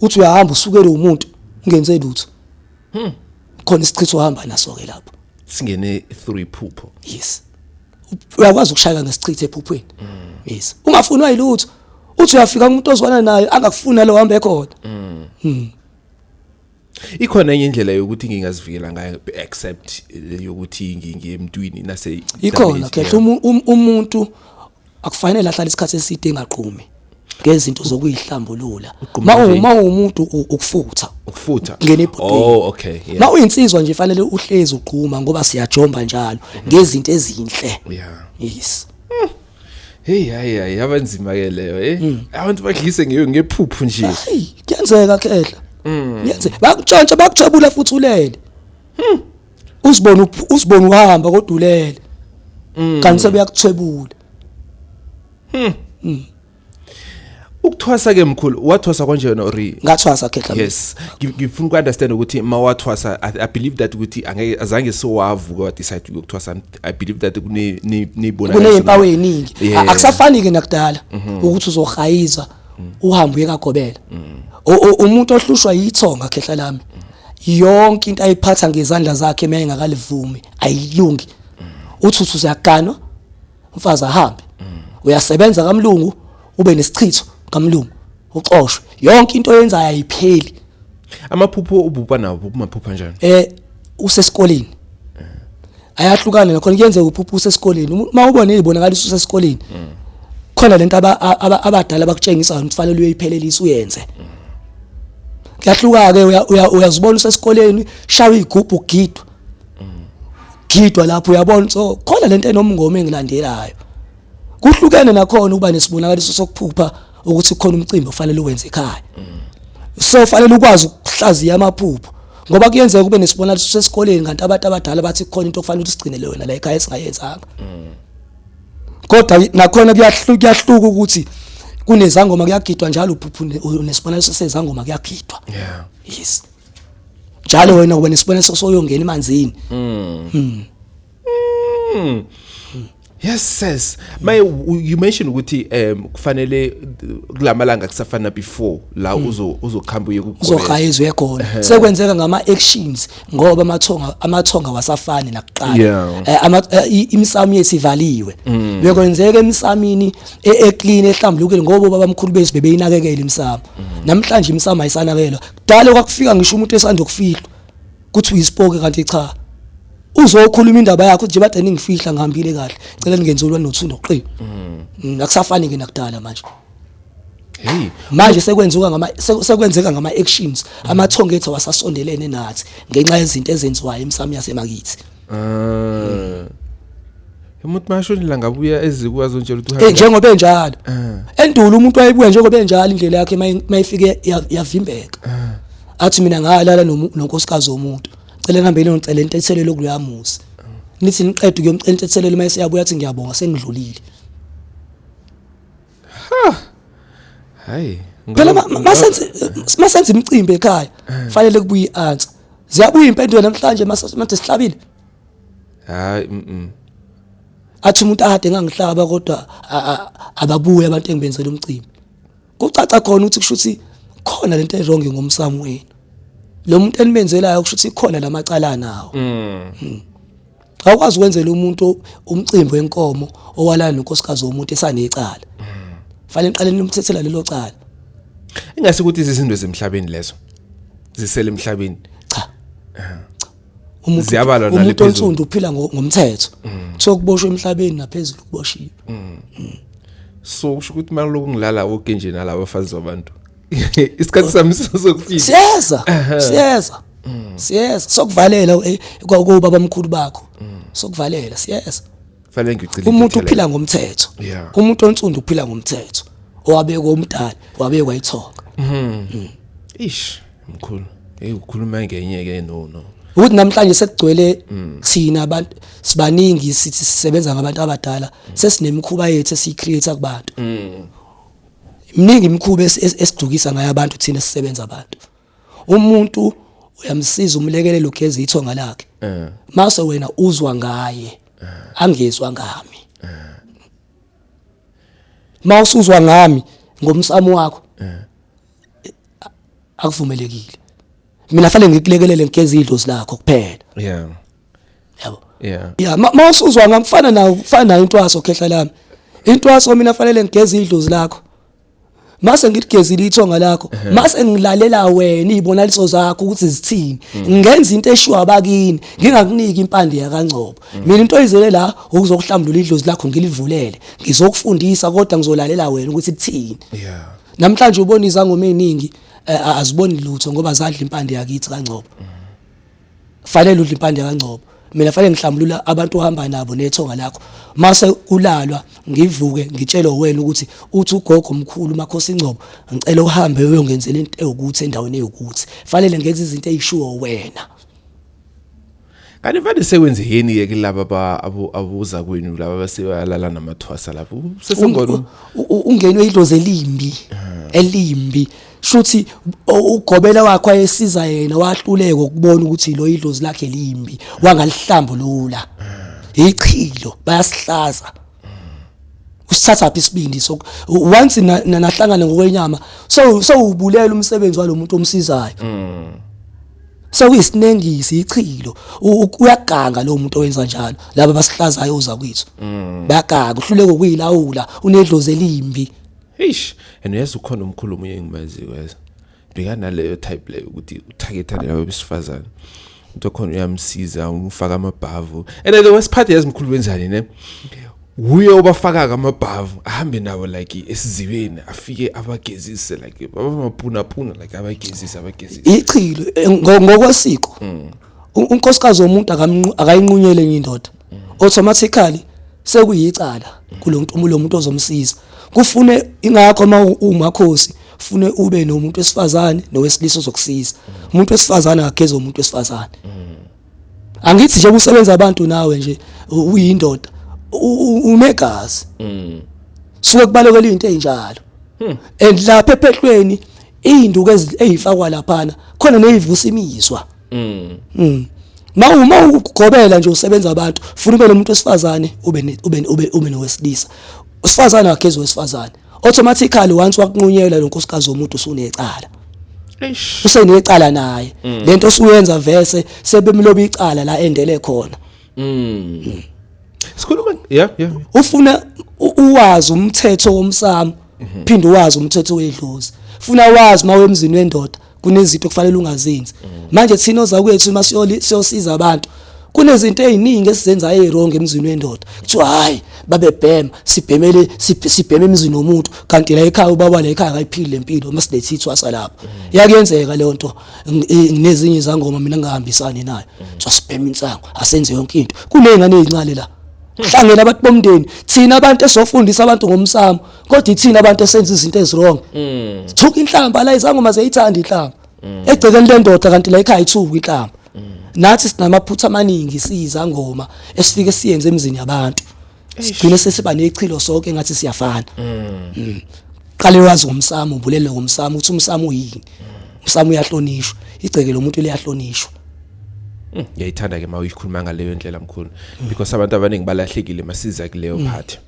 Uthi uyahamba usukele umuntu ungenze lutho. Hmm. Khona isichitho ohamba naso ke lapho. Singene through iphupho. Yes. Uyakwazi ukushayeka ngesichitho ephuphweni. Mm. Yes. Ungafunwa yilutho. Uthi uyafika umuntu ozwana naye angakufuna lo hambe khona. Mm. Hmm. Ikhona enye indlela yokuthi ngingazivikela ngayo except eh, yokuthi ngiye emntwini nase Ikhona khetha um, um, umuntu akufanele ahlale isikhathi eside engaqhumi ngezinto zokuyihlambulula Uqhuma ma nje. uma umuntu u- ukufutha ukufutha Ngena ebhodweni. oh okay yeah ma uyinsizwa nje fanele uhlezi uqhuma ngoba siyajomba njalo ngezinto ezinhle yeah yes hey hayi hayi yabanzima ke leyo eh Hmm. abantu badlise ngeyo ngephuphu nje hey kuyenzeka khehla yenze bakutshontsha bakujabula futhi ulele uzibona uzibona uhamba kodulele mm. kanti sebeyakuthwebula hmm. hmm. ukuthwasa ke mkhulu wathwasa konje yona or ngathwasa khehla yes ngifuna uku understand ukuthi mawathwasa i believe that ukuthi angeke azange so wavuka wa decide ukuthwasa i believe that kune nibona kune impawu eningi akusafani ke nakudala mhm. ukuthi uzohayiza mm. uhambe uyekagobela mm. umuntu ohlushwa yithonga khehla lami yonke into ayiphatha ngezandla zakhe uma engakalivumi ayilungi uthi uthi uyaganwa umfazi ahambe uyasebenza kamlungu ube nesichitho kamlungu uxoshwe yonke into oyenzayo ayipheli amaphupho ububha nawo kumaphupha njani eh usesikoleni ayahlukana nakhona kuyenzeka uphupha usesikoleni uma ubona izibonakalisa usesikoleni khona lento abadala bakutshengisa ukuthi kufanele uyiphelelise uyenze kuyahluka ke uyazibona usesikoleni shawa igubhu ugidwa gidwa lapho uyabona so khona lento enomngoma engilandelayo kuhlukene nakhona uba nesibonakaliso sokuphupha ukuthi kukhona umcimbi ofanele uwenze ekhaya so fanele ukwazi ukuhlaziya amaphupho ngoba kuyenzeka kube nesibonakaliso sesikoleni kanti abantu abadala bathi kukhona into okufanele usigcinele wena la ekhaya esingayenzanga kodwa nakhona kuyahluka kuyahluka ukuthi kunezangoma kuyagidwa njalo uphuphu nesibonakaliso sezangoma kuyagidwa yeah yes njalo wena uba nesibonakaliso soyongena emanzini mm. Mm. Yes sis. My you mentioned ukuthi um kufanele kulamalanga kusafana before la hmm. uzo uzokhamba uye kukhona. Uzohayizwa ekhona. Sekwenzeka ngama actions ngoba amathonga amathonga wasafani nakuqala. Eh, ama eh, imisamo yesivaliwe. Hmm. Bekwenzeka emisamini e, e clean ehlambulukile ngoba babamkhulu bethu bebeyinakekela imisamo. Hmm. Namhlanje imisamo ayisanakelwa. Kudala kwakufika ngisho umuntu esandokufihla. kuthi uyisipoke kanti cha uzokhuluma indaba yakho nje bade ningifihla ngihambile kahle cela ningenzelwa nothu noqi mm. akusafani ke nakudala manje hey manje sekwenzuka ngama sekwenzeka ngama actions mm. amathonga ethu wasasondelene nathi ngenxa yezinto ezenziwayo emsamo yasemakithi ah. umuntu mashonela ngabuya eziku azontshela ukuthi uhambe njengoba enjalo eh. endulo umuntu wayebuya njengoba enjalo indlela yakhe mayifike yavimbeka eh. athi mina ngalala nonkosikazi womuntu cela ngihambeni ngicela intethelelo kuyamuzi nithi niqeda ukuyomcela intethelelo mase yabuya athi ngiyabonga sengidlulile ha hayi phela masenze masenze imicimbi ekhaya eh. fanele kubuye i-answer ziyabuya impendulo namhlanje mase sihlabile hayi mhm athi umuntu ade ngangihlaba kodwa ababuye abantu engibenzela umcimbi kucaca khona ukuthi kushuthi khona lento ewrong ngomsamo wenu lo muntu enimenzelayo kushuthi khona lamacala nawo mm. Hmm. awukwazi ukwenzela umuntu umcimbi wenkomo owalana nonkosikazi womuntu esanecala mm. fanele niqale nimthethela lelo cala ingase ukuthi izizinto zemhlabeni lezo zisele emhlabeni cha umuntu Ziyabalwa nale umuntu phezulu. onsundu uphila ngo- ngomthetho Mm. kuthiwa kuboshwe emhlabeni naphezulu kuboshiwe so usho ukuthi mali lokungilala woke nje nalabo bafazi babantu isikhathi sami sokufika siyeza siyeza Mm. siyeza sokuvalela u- eh, kwa- kuba bamkhulu bakho Mm. sokuvalela siyeza fanele ngicile umuntu uphila ngomthetho Yeah. umuntu onsundu uphila ngomthetho owabekwa umdali wabekwa ithonga ish Mkhulu, hey ukhuluma ngenye ke no no. Ukuthi namhlanje sekugcwele mm. thina abantu sibaningi sithi sisebenza ngabantu abadala mm. sesinemikhuba yethu esiyicreate kubantu. Mm. Mningi imikhuba esidukisa ngayo abantu thina sisebenza abantu. Umuntu uyamsiza umlekelele ugeza ithonga lakhe. Eh. Mase wena uzwa ngaye eh. angezwa ngami. Eh. Mawusuzwa ngami ngomsamo wakho. akuvumelekile mina fanele ngikulekelele ngigeze idlozi lakho kuphela yeah yabo yeah yeah mawusuzwa ngamfana nawo ufana nayo intwaso khehla lami intwaso mina fanele ngigeze idlozi lakho mase ngiligezile ithonga lakho mase ngilalela wena izibonaliso zakho ukuthi zithini mm. ngenza into eshiwa abakini ngingakuniki impande yakangcobo mm. mina into oyizele la ukuzokuhlambulula idlozi lakho ngilivulele ngizokufundisa kodwa ngizolalela wena ukuthi kuthini yeah Namhlanje ubona izangoma eziningi eh, a- aziboni lutho ngoba zadla impande yakithi kaNgcobo. Fanele udle impande kaNgcobo. Mina fanele ngihlambulula abantu ohamba nabo nethonga lakho. Mase kulalwa ngivuke ngitshelwe wena ukuthi uthi ugogo omkhulu uMakhosi Ngcobo ngicela uhambe uyongenzela into ewukuthi endaweni ewukuthi. Fanele ngenze izinto ezishiwo wena. Kanti vele sewenze yini ke kulaba ba abuza kwenu laba baseyalala namathwasa lapho. Sesingona ungenwe idoze limbi elimbi. Shuthi ugobela wakho ayesiza yena wahluleka ukubona ukuthi lo idlozi lakhe limbi wangalihlambulula. Ichilo bayasihlaza. usithatha phi isibindi so once nahlangana ngokwenyama so so ubulela umsebenzi walomuntu omsizayo mm. so isinengisi ichilo uyaganga lo muntu owenza njalo laba basihlazayo uza kwethu mm. bayaganga uhluleke ukuyilawula unedlozi elimbi eish and yes ukhona umkhulumi engimaziyo weza bheka naleyo type leyo ukuthi uthakethane nawe besifazane umuntu okhona uyamsiza umfaka amabhavu and the worst part yazi mkhulu wenzani ne wuye obafaka kamabhavu ahambe nabo like esizibeni afike abagezise like babamaphuna phuna like abagezise abagezise ichilo ngokwasiko mm. U- unkosikazi womuntu akamnqu- akayinqunyele enye indoda automatically sekuyicala kulo muntu lo muntu ozomsiza kufune ingakho uma u- umakhosi fune ube nomuntu wesifazane nowesilisa ozokusiza umuntu wesifazane akageze umuntu wesifazane angithi nje kusebenza abantu nawe nje u- uyindoda u- u- unegazi suke kubalekela into ezinjalo and lapha ephehlweni iy'nduku ey'fakwa laphana khona ney'vusa imizwa mm. mm. ma uma ukugobela nje usebenza abantu funa ube nomuntu wesifazane ube ube ube ube nowesilisa usifazane wakhe ezowesifazane automatically once wakunqunyela lo nkosikazi womuntu usunecala usenecala naye mm. lento osuyenza vese sebemloba icala la endele khona mm sikhuluma yeah yeah ufuna uwazi umthetho womsamo mhm. phinde wazi umthetho wedlozi funa wazi uma wemzini wendoda kunezinto okufanele ungazenzi mhm. manje thina oza kwethu uma siyosiza abantu kunezinto eziningi esizenzayo ezirongo emzini wendoda kuthiwa hayi babebhema sibhemele sibheme emzini womuntu kanti la ekhaya ubaba la ekhaya akayiphili lempilo uma silethi ithwasa lapha mm. yakuyenzeka leyo nto nginezinye izangoma mina ngihambisani nayo mm. kuthiwa sibheme insango asenze yonke into kunezingane ezincane la hlangene abantu bomndeni thina abantu esofundisa abantu ngomsamo kodwa ithina abantu esenza izinto eziwrong mm. thuka inhlamba la izango maze ithanda inhlamba mm. egcekeni lendoda kanti la ekhaya ithuka inhlamba mm. nathi sinamaphutha amaningi siyizangoma esifike siyenze emzini yabantu sigcine sesiba nechilo sonke ngathi siyafana qale wazi ngomsamo ubulele ngomsamo ukuthi umsamo uyini umsamo uyahlonishwa igceke lomuntu liyahlonishwa Mm, ngiyayithanda ke mawuyikhuluma ngaleyo ndlela mkhulu mm. because abantu abaningi balahlekile masiza kuleyo mm. part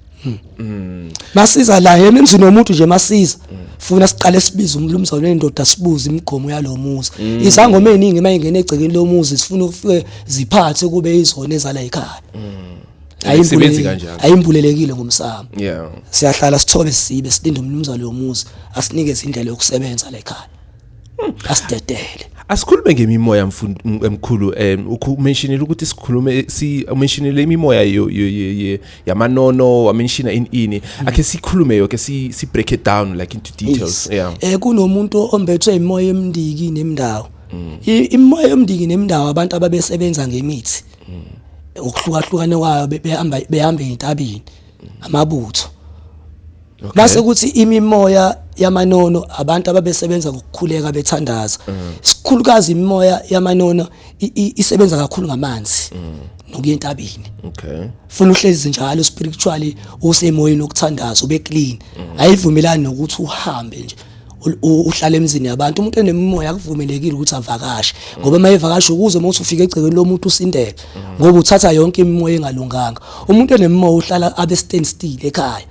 Mm. Masiza la yena emzini womuntu nje masiza. Mm. Funa siqale sibize umlumzane wendoda sibuze imigomo yalomuzi. Mm. Izangoma eziningi mayingena egcekeni lomuzi sifuna ukufike ziphathe kube izona ezala ekhaya. Mm. ayisebenzi kanjalo ayimbulelekile ngomsamo yeah siyahlala sithole sibe silinde umnumzane womuzi asinike izindlela yokusebenza la ekhaya asidedele asikhulume ngemimoya mfundi emkhulu um umentionile ukuthi sikhulume si umentionile imimoya yamanono wamenshina ini ini hmm. akhe sikhulume yoke si si break it down like into details yeah eh kunomuntu ombethwe imoya emndiki nemndawo hmm. imoya emndiki nemndawo abantu ababesebenza ngemithi hmm. ukuhlukahlukana kwayo behamba behamba entabini amabutho okay. base kuthi imimoya yamanono abantu ababesebenza ngokukhuleka bethandaza mm. sikhulukazi imimoya yamanono isebenza kakhulu ngamanzi mm. nokuya entabeni okay funa uhlezi njalo spiritually usemoyeni okuthandaza ube clean mm. ayivumelani nokuthi uhambe nje uhlala emzini yabantu umuntu enemimoya akuvumelekile ukuthi avakashe ngoba uma evakasha ukuze uma usufika egcekeni lomuntu usindele ngoba uthatha yonke imimoya engalunganga umuntu enemimoya uhlala abe stand still ekhaya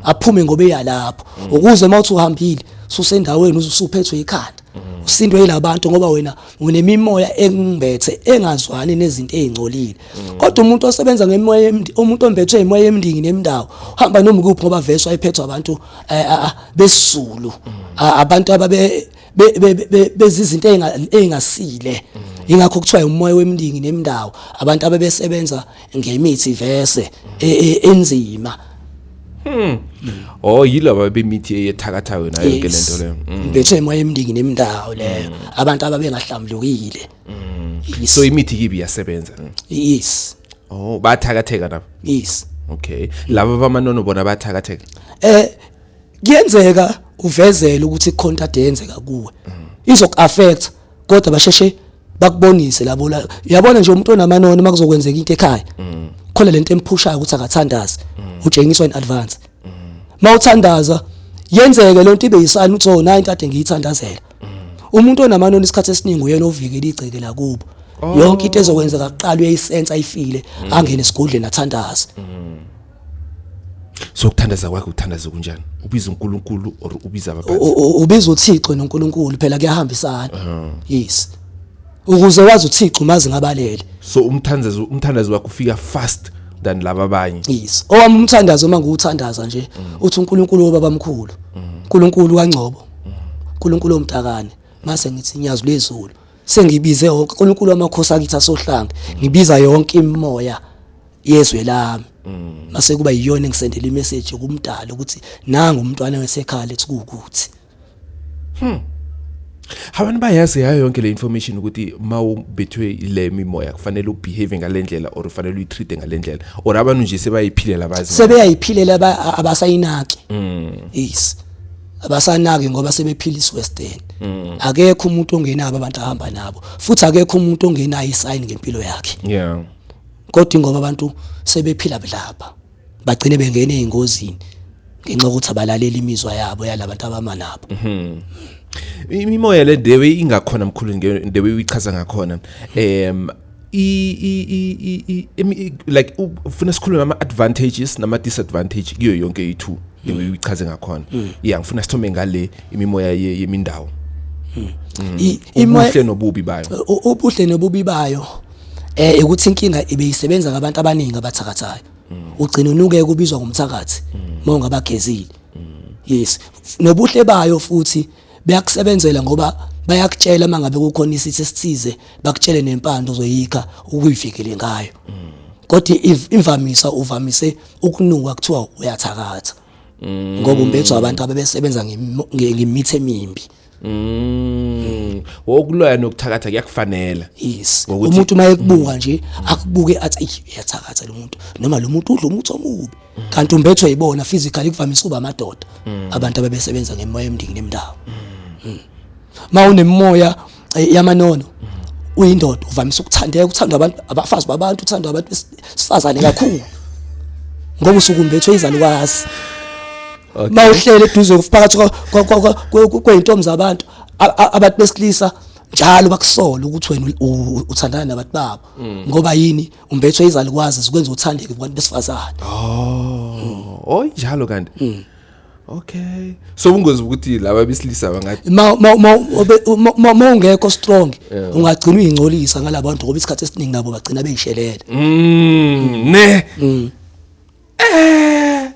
aphume ngoba eyalapho ukuze uma uthi uhambile susendaweni usuphethwe ikhanda usindwe yilabantu ngoba wena unemimoya engimbethe engazwani nezinto ezingcolile mm. kodwa umuntu osebenza ngemoya umuntu ombethwe imoya emndingi nemndawo uhamba noma kuphi ngoba vese wayephethwa abantu eh, ah, ah, besizulu mm. ah, abantu ababe bezizinto engasile mm. ingakho kuthiwa umoya wemndingi nemndawo abantu abebesebenza ngemithi vese e, e, enzima Hmm. Oh yilaba bemithi eyethakathayo nayo ke lento leyo. Bethe mayemndingi nemndawo leyo. Abantu ababengahlambulukile. Mm. Yes. So imithi kibi iyasebenza. Mm. Yes. Oh, bathakatheka nabo. Yes. Okay. Laba bamanono bona bathakatheka. Eh kuyenzeka uvezele ukuthi ikhonta ade yenzeka kuwe. Mm. Izok affect kodwa basheshe bakubonise labo la. Uyabona nje umuntu onamanono makuzokwenzeka into ekhaya. Mm. Khona lento emphushayo ukuthi akathandazi. Mm. Ujengiswa in advance. Mm. Mawuthandaza yenzeke lento ibe yisani uthi oh nayi into ade ngiyithandazela. umuntu onamanoni isikhathi esiningi uyena ovikela igceke lakubo oh. yonke into ezokwenzeka kuqala uyayisensa ayifile mm. angene esigodleni athandaze mm. so ukuthandaza kwakhe ukuthandaza kunjani ubiza uNkulunkulu or ubiza abaphansi ubiza uThixo noNkulunkulu phela kuyahambisana uh-huh. yes ukuze wazi uThixo umazi ngabalele so umthandazo umthandazo wakhe ufika fast than laba abanye yes owami umthandazo uma ngiwuthandaza nje mm. uthi uNkulunkulu obabamkhulu uNkulunkulu kaNgcobo uNkulunkulu omtakane mase ngithi nyazi lwezulu sengibize yonke uNkulunkulu wamakhosi akithi asohlanga ngibiza yonke imimoya yezwe lami mase kuba yiyona engisendela imessage kumdala ukuthi nangu umntwana wesekhaya lethi kukuthi hmm Abantu bayazi yayo yonke le information ukuthi mawubethwe ile mimoya kufanele ubehave ngalendlela or ufanele uyitreat ngalendlela or abantu nje sebayiphilela abazi sebeyayiphilela abasayinaki mm. yes abasanaki ngoba sebephila isiwestern mm. akekho umuntu ongenabo abantu ahamba nabo futhi akekho umuntu ongenayo isign ngempilo yakhe yeah kodwa ingoba abantu sebephila budlapha bagcine bengene ezingozini ngenxa ukuthi abalalela imizwa yabo yalabantu abama nabo mhm imimoya le dewe ingakhona mkhulu ndewe uyichaza ngakhona em i like ufuna sikhulume ama advantages nama disadvantage kuyo yonke i2 ngiyichaze ngakhona mm. yeah ngifuna sithome ngale imimoya yemindawo mm. mm. imoya nobubi bayo ubuhle nobubi bayo eh ukuthi inkinga ibe isebenza ngabantu abaningi abathakathayo ugcina unuke kubizwa ngomthakathi mawungabagezile yes nobuhle bayo futhi beyakusebenzela ngoba bayakutshela uma ngabe kukhona isithi esithize bakutshele nempande ozoyikha ukuyivikele ngayo kodwa imvamisa uvamise ukunuka kuthiwa uyathakatha ngoba umbethwa abantu abebesebenza ngemithi emimbi Mm. Wokuloya nokuthakatha kuyakufanela. Yes. Umuntu uma ekubuka nje akubuke athi eyi uyathakatha lo muntu noma lo muntu udla umuthi omubi. kanti umbethwe yibona physically kuvamise kuba amadoda mm. abantu ababesebenza ngemoya emndini nemndawo mm. mm. ma unemoya eh, yamanono mm. uyindoda uvamise ukuthandeka ukuthandwa abantu abafazi babantu uthandwa abantu besifazane kakhulu ngoba usukumbethwe izalukazi okay. ma uhlele eduze phakathi kweyintombi zabantu abantu besilisa njalo bakusola ukuthi wena uthandana nabantu babo mm. ngoba yini umbethwe izalikwazi zikwenza uthandeke kubantu besifazane oh oh njalo kanti hmm. okay so ubungozi ukuthi laba besilisa bangathi ma ma ma ma ungekho strong ungagcina uyingcolisa ngalabantu ngoba isikhathi esiningi nabo bagcina beyishelele mm ne mm. eh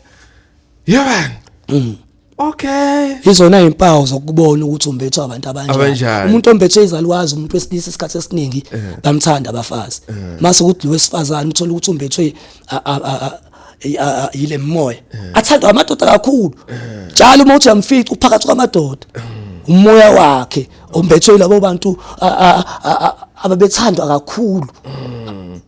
yaban mm. Okay. Izona impawu zokubona ukuthi umbethwa abantu abanjani. Umuntu ombethwe izalukazi umuntu wesilisa isikhathi esiningi eh. bamthanda abafazi. Eh. Mase ukuthi lo wesifazane uthola ukuthi umbethwe yile moya. Eh. Athandwa amadoda kakhulu. Njalo uma uthi yamfica uphakathi kwamadoda. Umoya wakhe ombethwe labo bantu ababethandwa kakhulu. Mm.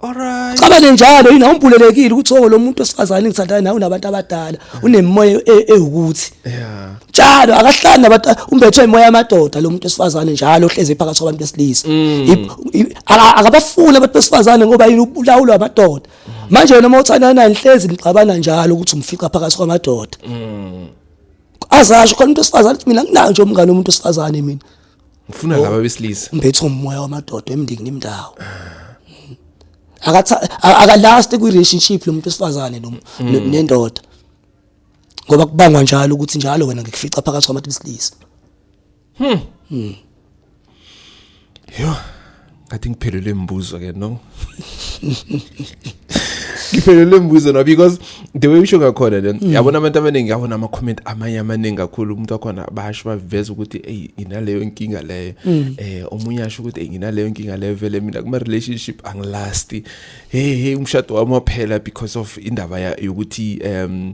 Alright. Cabane njalo yini awumbulelekile ukuthi oh lo muntu osifazane ngithandana nawe unabantu abadala unemoya e- ewukuthi. Yeah. Njalo akahlani nabantu umbethwe imoya yamadoda lo muntu osifazane njalo ohleze phakathi kwabantu besilisa. Mm. Ib- i- aka- Akabafuni abantu besifazane ngoba yini ubulawulwa amadoda. Mm. Manje wena uma uthandana naye nihlezi nixabana njalo ukuthi umfica phakathi kwamadoda. Mm. Azasho khona umuntu osifazane ukuthi mina nginayo nje umngane womuntu osifazane mina. ngifuna oh, laba besilisa umphethe umoya wamadoda emndikini imndawo akatha akalast kwi relationship lo muntu wesifazane lo mm. nendoda ngoba kubangwa njalo ukuthi njalo wena ngikufica phakathi kwabantu besilisa hmm, hmm. yho ngathi ngiphelelwe imibuzo ke no ngiphelelwe imibuzo no because the way usho ngakhona then mm. yabona abantu abaningi yabona ama comment amanye amaningi kakhulu umuntu wakhona basho baveza ukuthi hey nginaleyo inkinga leyo mm. eh omunye asho ukuthi hey nginaleyo inkinga leyo vele mina kuma relationship angilasti hey hey umshado wami waphela because of indaba yokuthi um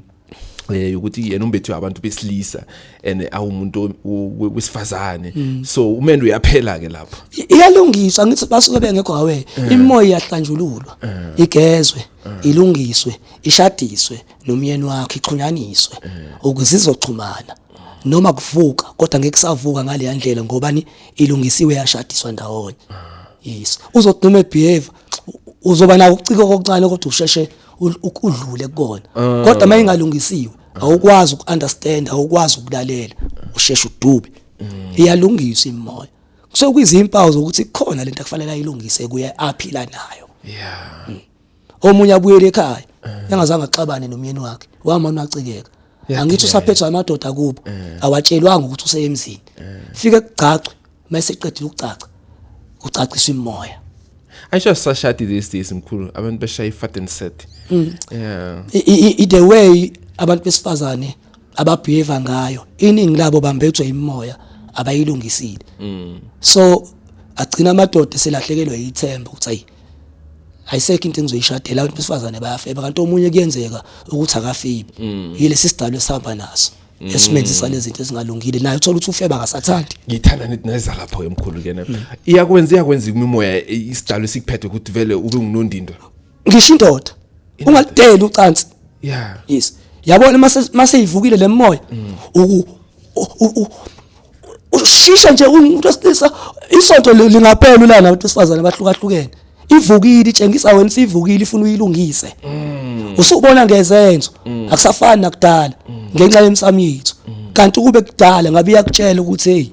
eh ukuthi yena umbethu abantu besilisa and awumuntu wesifazane mm. so umendo uyaphela ke lapho iyalungiswa ngithi basuke bengekho awe eh. imoya iyahlanjululwa eh. igezwe eh. ilungiswe ishadiswe nomyeni wakhe iqhunyaniswe ukuze izoxhumana noma kuvuka kodwa ngeke savuka ngale yandlela ngoba ni ilungisiwe yashadiswa ndawonye ah. yes uzoduma ebehave uzoba nawo ukucika kokuncane kodwa usheshe udlule kukona ah. kodwa uma ingalungisiwe awukwazi uku-understand awukwazi ukulalela usheshe udube mm. iyalungiswa imoya kusuke kuyizimpawu zokuthi khona lento akufanele ayilungise kuye aphila nayo yeah mm. omunye abuyele ekhaya engazange axabane nomyeni wakhe wamana acikeka angithi usaphethwa amadoda kubo eh. awatshelwanga ukuthi useyemzini eh. fike kugcacwe mase qedile ukugcaca ucacisa imoya ayisho sashadi these days mkhulu abantu beshaya ifat and set mm. yeah i the way abantu besifazane ababehave ngayo iningi labo bambethwe imoya abayilungisile mm. so agcina amadoda selahlekelwe yithemba ukuthi ayi ayisekho into engizoyishadela abantu besifazane bayafeba kanti omunye kuyenzeka ukuthi akafebi mm. yilesi sidalo esihamba naso mm. esimenzisa lezi zinto ezingalungile naye uthola ukuthi ufeba akasathandi ngithanda nithi neza lapho emkhulu kena mm. iyakwenza iyakwenza imimoya isidalo esikuphethe ukuthi vele ube ngunondindwa ngisho indoda ungalideli ucansi yeah yes yabona mase mase ivukile lemoya ushisha nje umuntu wesilisa isonto lingaphela ulana abantu besifazane abahlukahlukene ivukile itshengisa wena sivukile ifuna uyilungise mm. usubona ngezenzo mm. akusafani nakudala mm. ngenxa yemsamo yethu kanti kube kudala ngabe iyakutshela ukuthi hey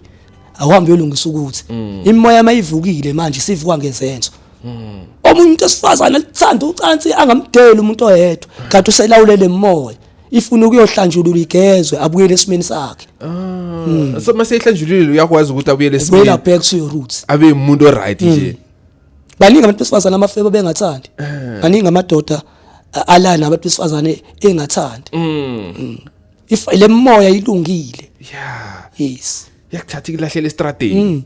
awuhambe uyolungisa ukuthi imoya mayivukile manje sivuka ngezenzo omunye umuntu esifazane alithanda ucansi angamdeli umuntu oyedwa kanti uselawulele imoya ifuna ukuyohlanjulula igezwe abuyele esimeni sakhe ah hmm. so mase ihlanjululile uyakwazi ukuthi abuyele esimeni wela back to your roots abe umuntu oright nje hmm. baningi abantu besifazana amafebo bengathandi eh. baningi amadoda alana abantu besifazane engathandi hmm. if le moya ilungile yeah yes yakuthatha ikulahlela estradeni Mm.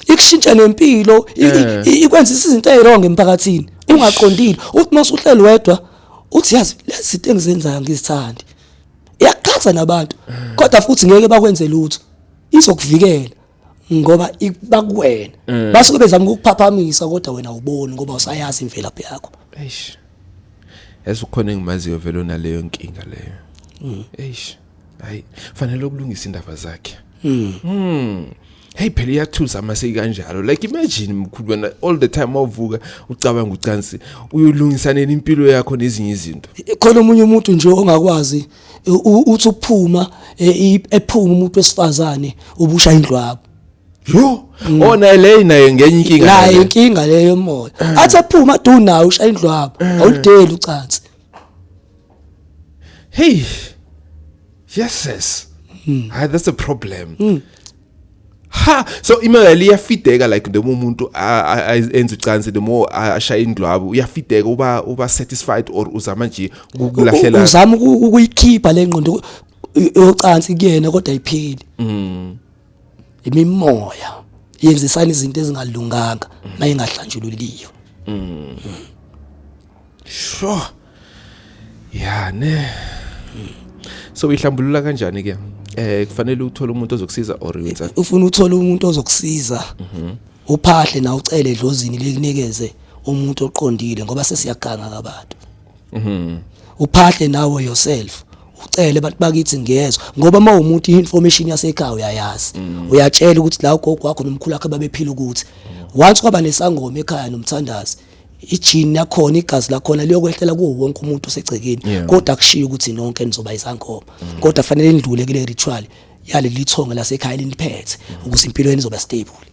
Ikushintsha nempilo, i- Eh. i- ikwenza izinto eziwrong emphakathini. Ungaqondile. Uthi mase uhleli wedwa, uthi yazi lezi zinto engizenzayo ngizithandi. Iyakuchaza nabantu. Kodwa futhi ngeke bakwenze lutho. Izokuvikela ngoba ibakuwena. Eh. Basuke bezama ukukuphaphamisa kodwa wena uboni ngoba usayazi imvelaphi yakho. eish yazi ukhona engimaziyo vele onaleyo nkinga leyo eish hayi fanele ukulungisa indaba zakhe mm. mm. hey phela iyathusa uma seyikanjalo like imagine mkhulu wena all the time awuvuka ucabanga ucansi uyolungisa nini impilo yakho nezinye izinto khona omunye umuntu nje ongakwazi uthi uphuma e, ephuma umuntu wesifazane ubusha indlu yakho yo mm. ona oh, leyi naye ngenye inkinga naye inkinga leyo moya athi aphuma du nawe ushaya indlu yakho eh. awulideli ucansi hey yes yes mm. Hi, that's a problem mm. ha so imali iyafideka like noma umuntu enza ucansi noma ashaya indlwabu uyafideka uba uba satisfied or uzama nje ukulahlela uzama ukuyikhipha lengqondo yocansi kuyena kodwa ipheli mm imimoya yenzisana izinto ezingalunganga mayingahlanjululiyo sho ya ne so uyihlambulula kanjani ke eh kufanele uthole umuntu ozokusiza or wenza ufuna uthole umuntu ozokusiza uphahle na ucele edlozini likunikeze umuntu oqondile ngoba sesiyaganga kabantu mhm uphahle nawe yourself ucele abantu bakithi ngiyezwa ngoba uma umuntu i-information yasekhaya uyayazi mm. uyatshela ukuthi la ugogo wakho nomkhulu wakhe babephila ukuthi mm. once kwaba nesangoma ekhaya nomthandazi ijini lakhona igazi lakhona liyokwehlela kuwo wonke umuntu osegcekeni kodwa akushiyo ukuthi nonke nizoba isangoma mm. kodwa fanele nidlule kule ritual yaleli thonga lasekhaya liniphethe ukuze impilo yenu izoba stable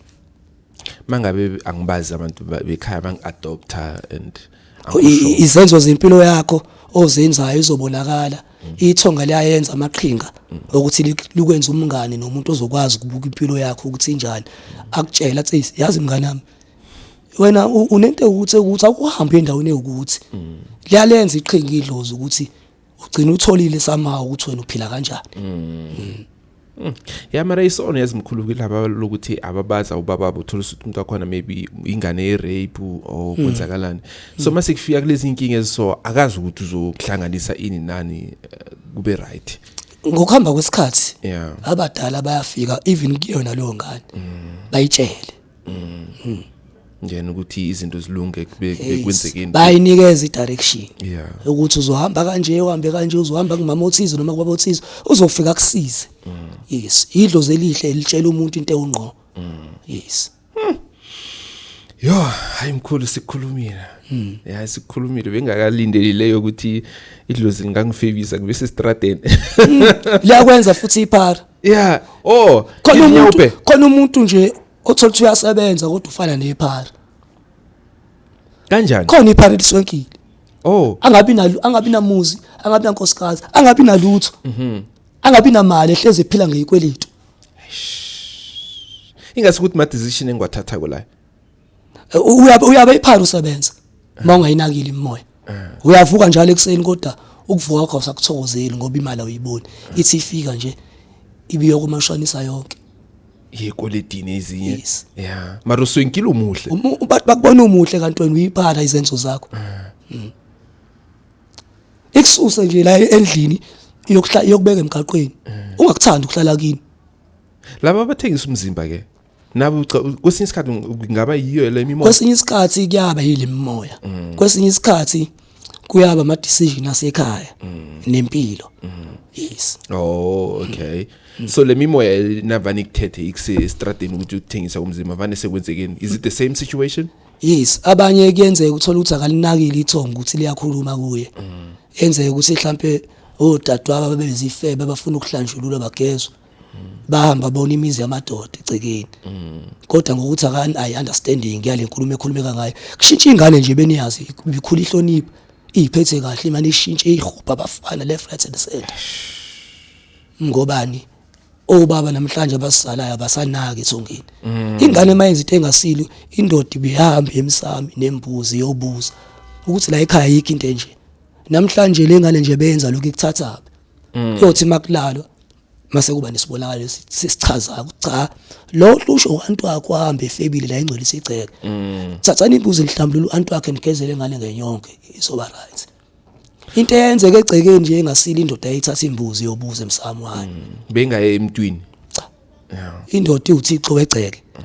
mangabe angibazi abantu bekhaya bangiadopter and izenzo zempilo yakho ozenzayo izobonakala ithonga liyayenza amaqhinga ukuthi likwenza umngane nomuntu ozokwazi ukubuka impilo yakho ukuthi injani akutshela athi yazi mngane wami wena unento ukuthi ukuthi awuhambe endaweni ewukuthi liyalenza iqhinga idlozi ukuthi ugcina utholile somehow ukuthi wena uphila kanjani mm. Mm. Mm. ya mara isono yazimkhulu kulaba lokuthi ababaza ubaba bothola ukuthi umuntu wakhona maybe ingane yerape or hmm. kwenzakalani so hmm. mase kufika kulezi inkinga eziso akazi ukuthi uzohlanganisa ini nani eh, kube right ngokuhamba kwesikhathi yeah abadala bayafika even kuyona leyo ngane hmm. bayitshele mm. njena ukuthi izinto zilunge bekwenzekeni bayinikeza idirection yeah ukuthi uzohamba kanje uhambe kanje uzohamba kumama othize noma kubaba othize uzofika kusize mm. yes idlo zelihle elitshela umuntu into ewungqo mm. yes hmm. yo hayi mkhulu sikhulumile hmm. ya sikhulumile bengakalindeli leyo ukuthi idlozi lingangifebisa kube sestradeni hmm. liyakwenza futhi iphara yeah oh khona umuntu khona umuntu nje othola ukuthi uyasebenza kodwa ufana nephara kanjani khona iphara eliswenkile oh angabi nalo angabi namuzi angabi nankosikazi angabi nalutho mhm angabi namali ehleze ephila ngeyikwelito ingase ukuthi ma decision engiwathatha kulayo uyabe uyabe iphara usebenza uma ungayinakile imoya uyavuka njalo ekuseni kodwa ukuvuka kwakho sakuthokozeli ngoba imali awuyiboni ithi ifika nje ibiyokumashonisa yonke yekweletini ezinye Yes. yeah mara uswenkile umuhle Umu- uba- bakubona umuhle kanti wena uyiphatha izenzo zakho Mm. ikususe nje la endlini iyokuhla- iyokubeka emgaqweni ungakuthandi ukuhlala kini laba abathengisa umzimba ke nabe kwesinye isikhathi ngaba yiyo le mimoya kwesinye isikhathi kuyaba yile mimoya mm. kwesinye isikhathi kuyaba ama decision asekhaya mm. nempilo mm. yes oh okay so le mimoya navani kuthethe ikuse estradeni ukuthi uthengisa umzimba vane sekwenzekeni is it the same situation yes abanye kuyenzeka uthola ukuthi akalinakile ithonga ukuthi liyakhuluma kuye enzeka ukuthi mhlambe odadewabo babezifebe bafuna ukuhlanjululwa bagezwe bahamba bona imizi yamadoda egcekeni kodwa ngokuthi akani ayi understanding yale nkulumo ekhulumeka ngayo kushintsha ingane nje beniyazi ikhula ihlonipha iyiphethe kahle imane ishintshe ihubha abafana left right and center ngobani obaba namhlanje abasalayo abasanaki ethongeni mm. ingane mayenza into engasilo indoda ibihamba emsami nembuzi yobuza ukuthi la ekhaya yikho into enje namhlanje lengane nje benza lokho ikuthatha mm. kuyothi makulalwa mase kuba nesibonakalo sesichazayo ukuthi cha lo lusho uantu wakho ahambe efebile la ingcolisa igceke mm. thathani imbuzi nihlambulula uantu wakhe nigezele ngane ngenyonke izoba right into eyenzeka egcekeni nje engasile indoda ayithatha imbuzi yobuza emsamo wayo mm. bengaye emntwini cha indoda iwuthixo wegceke mm.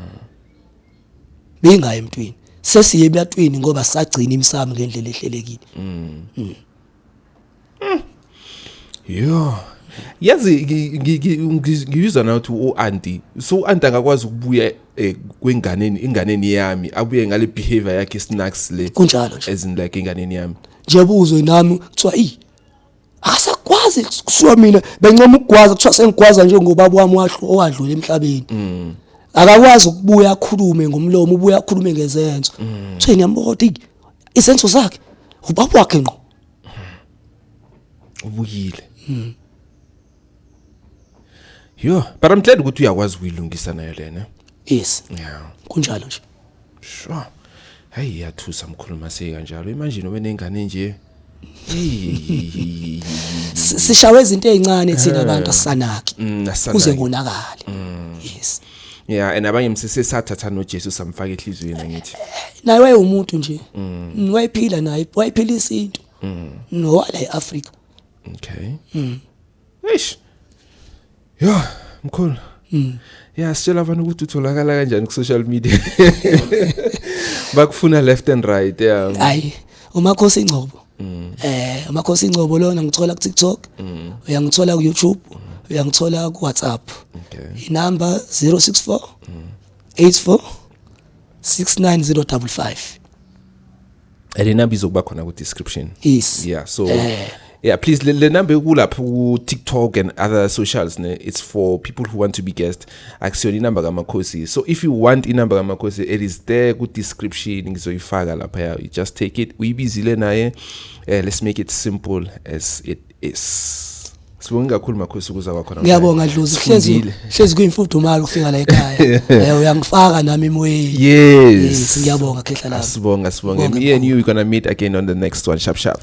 bengaye emntwini sesiye ebyatwini ngoba sagcina imsamo ngendlela ehlelekile mm. mm. Hmm. Yo. Yazi ngiyizwa na ukuthi uAuntie so uAuntie akakwazi ukubuya eh, kwenganeni inganeni yami abuye ngale behavior yakhe snacks le kunjalo nje as in like inganeni yami njebuzwe nami kuthiwa i asakwazi kusuka mina bencoma ukugwaza kuthiwa sengigwaza nje ngobaba wami wahlu owadlula emhlabeni mm. akakwazi ukubuya akhulume ngomlomo ubuya akhulume ngezenzo mm. kutheni yamboda izenzo zakhe ubaba wakhe ngqo ubuyile mm. yo but i'm glad ukuthi uyakwazi ukuyilungisa nayo lena yes yeah kunjalo nje sure hayi iyathusa mkhuluma sekanjalo imanje nobe nengane nje sishawe izinto ezincane thina abantu asanaki mm, kuze ngonakale mm. yes yeah and abanye msisi sathatha noJesu samfaka ehlizweni angithi naye wayewumuntu nje mm. wayephila naye wayephila isintu mm. nowala eAfrica okay mm. eish yo mkhulu mm. yeah sitshela abantu ukuthi utholakala kanjani ku social media bakufuna left and right yeah hayi umakhosi ingcobo mm. eh amakhosi ingcobo lona ngithola ku TikTok mm. uyangithola ku YouTube mm. uyangithola ku WhatsApp okay inamba 064 mm. 84 69055 le number izokuba khona ku description yes yeah so eh. yeah please le number ekulapha ku TikTok and other socials ne it's for people who want to be guests akusiyona inamba kamakhosi so if you want inamba kamakhosi it is there ku description ngizoyifaka lapha ya you just take it uyibizile naye uh, let's make it simple as it is Sibonga kakhulu makhosi ukuza kwakho namhlanje. Ngiyabonga Dlozi hlezi hlezi kuyimfudumalo ukufika la ekhaya. Eh uyangifaka nami emoyeni. Yes. Yes ngiyabonga khehla lapho. Sibonga sibonga. Me and you we gonna meet again on the next one sharp sharp.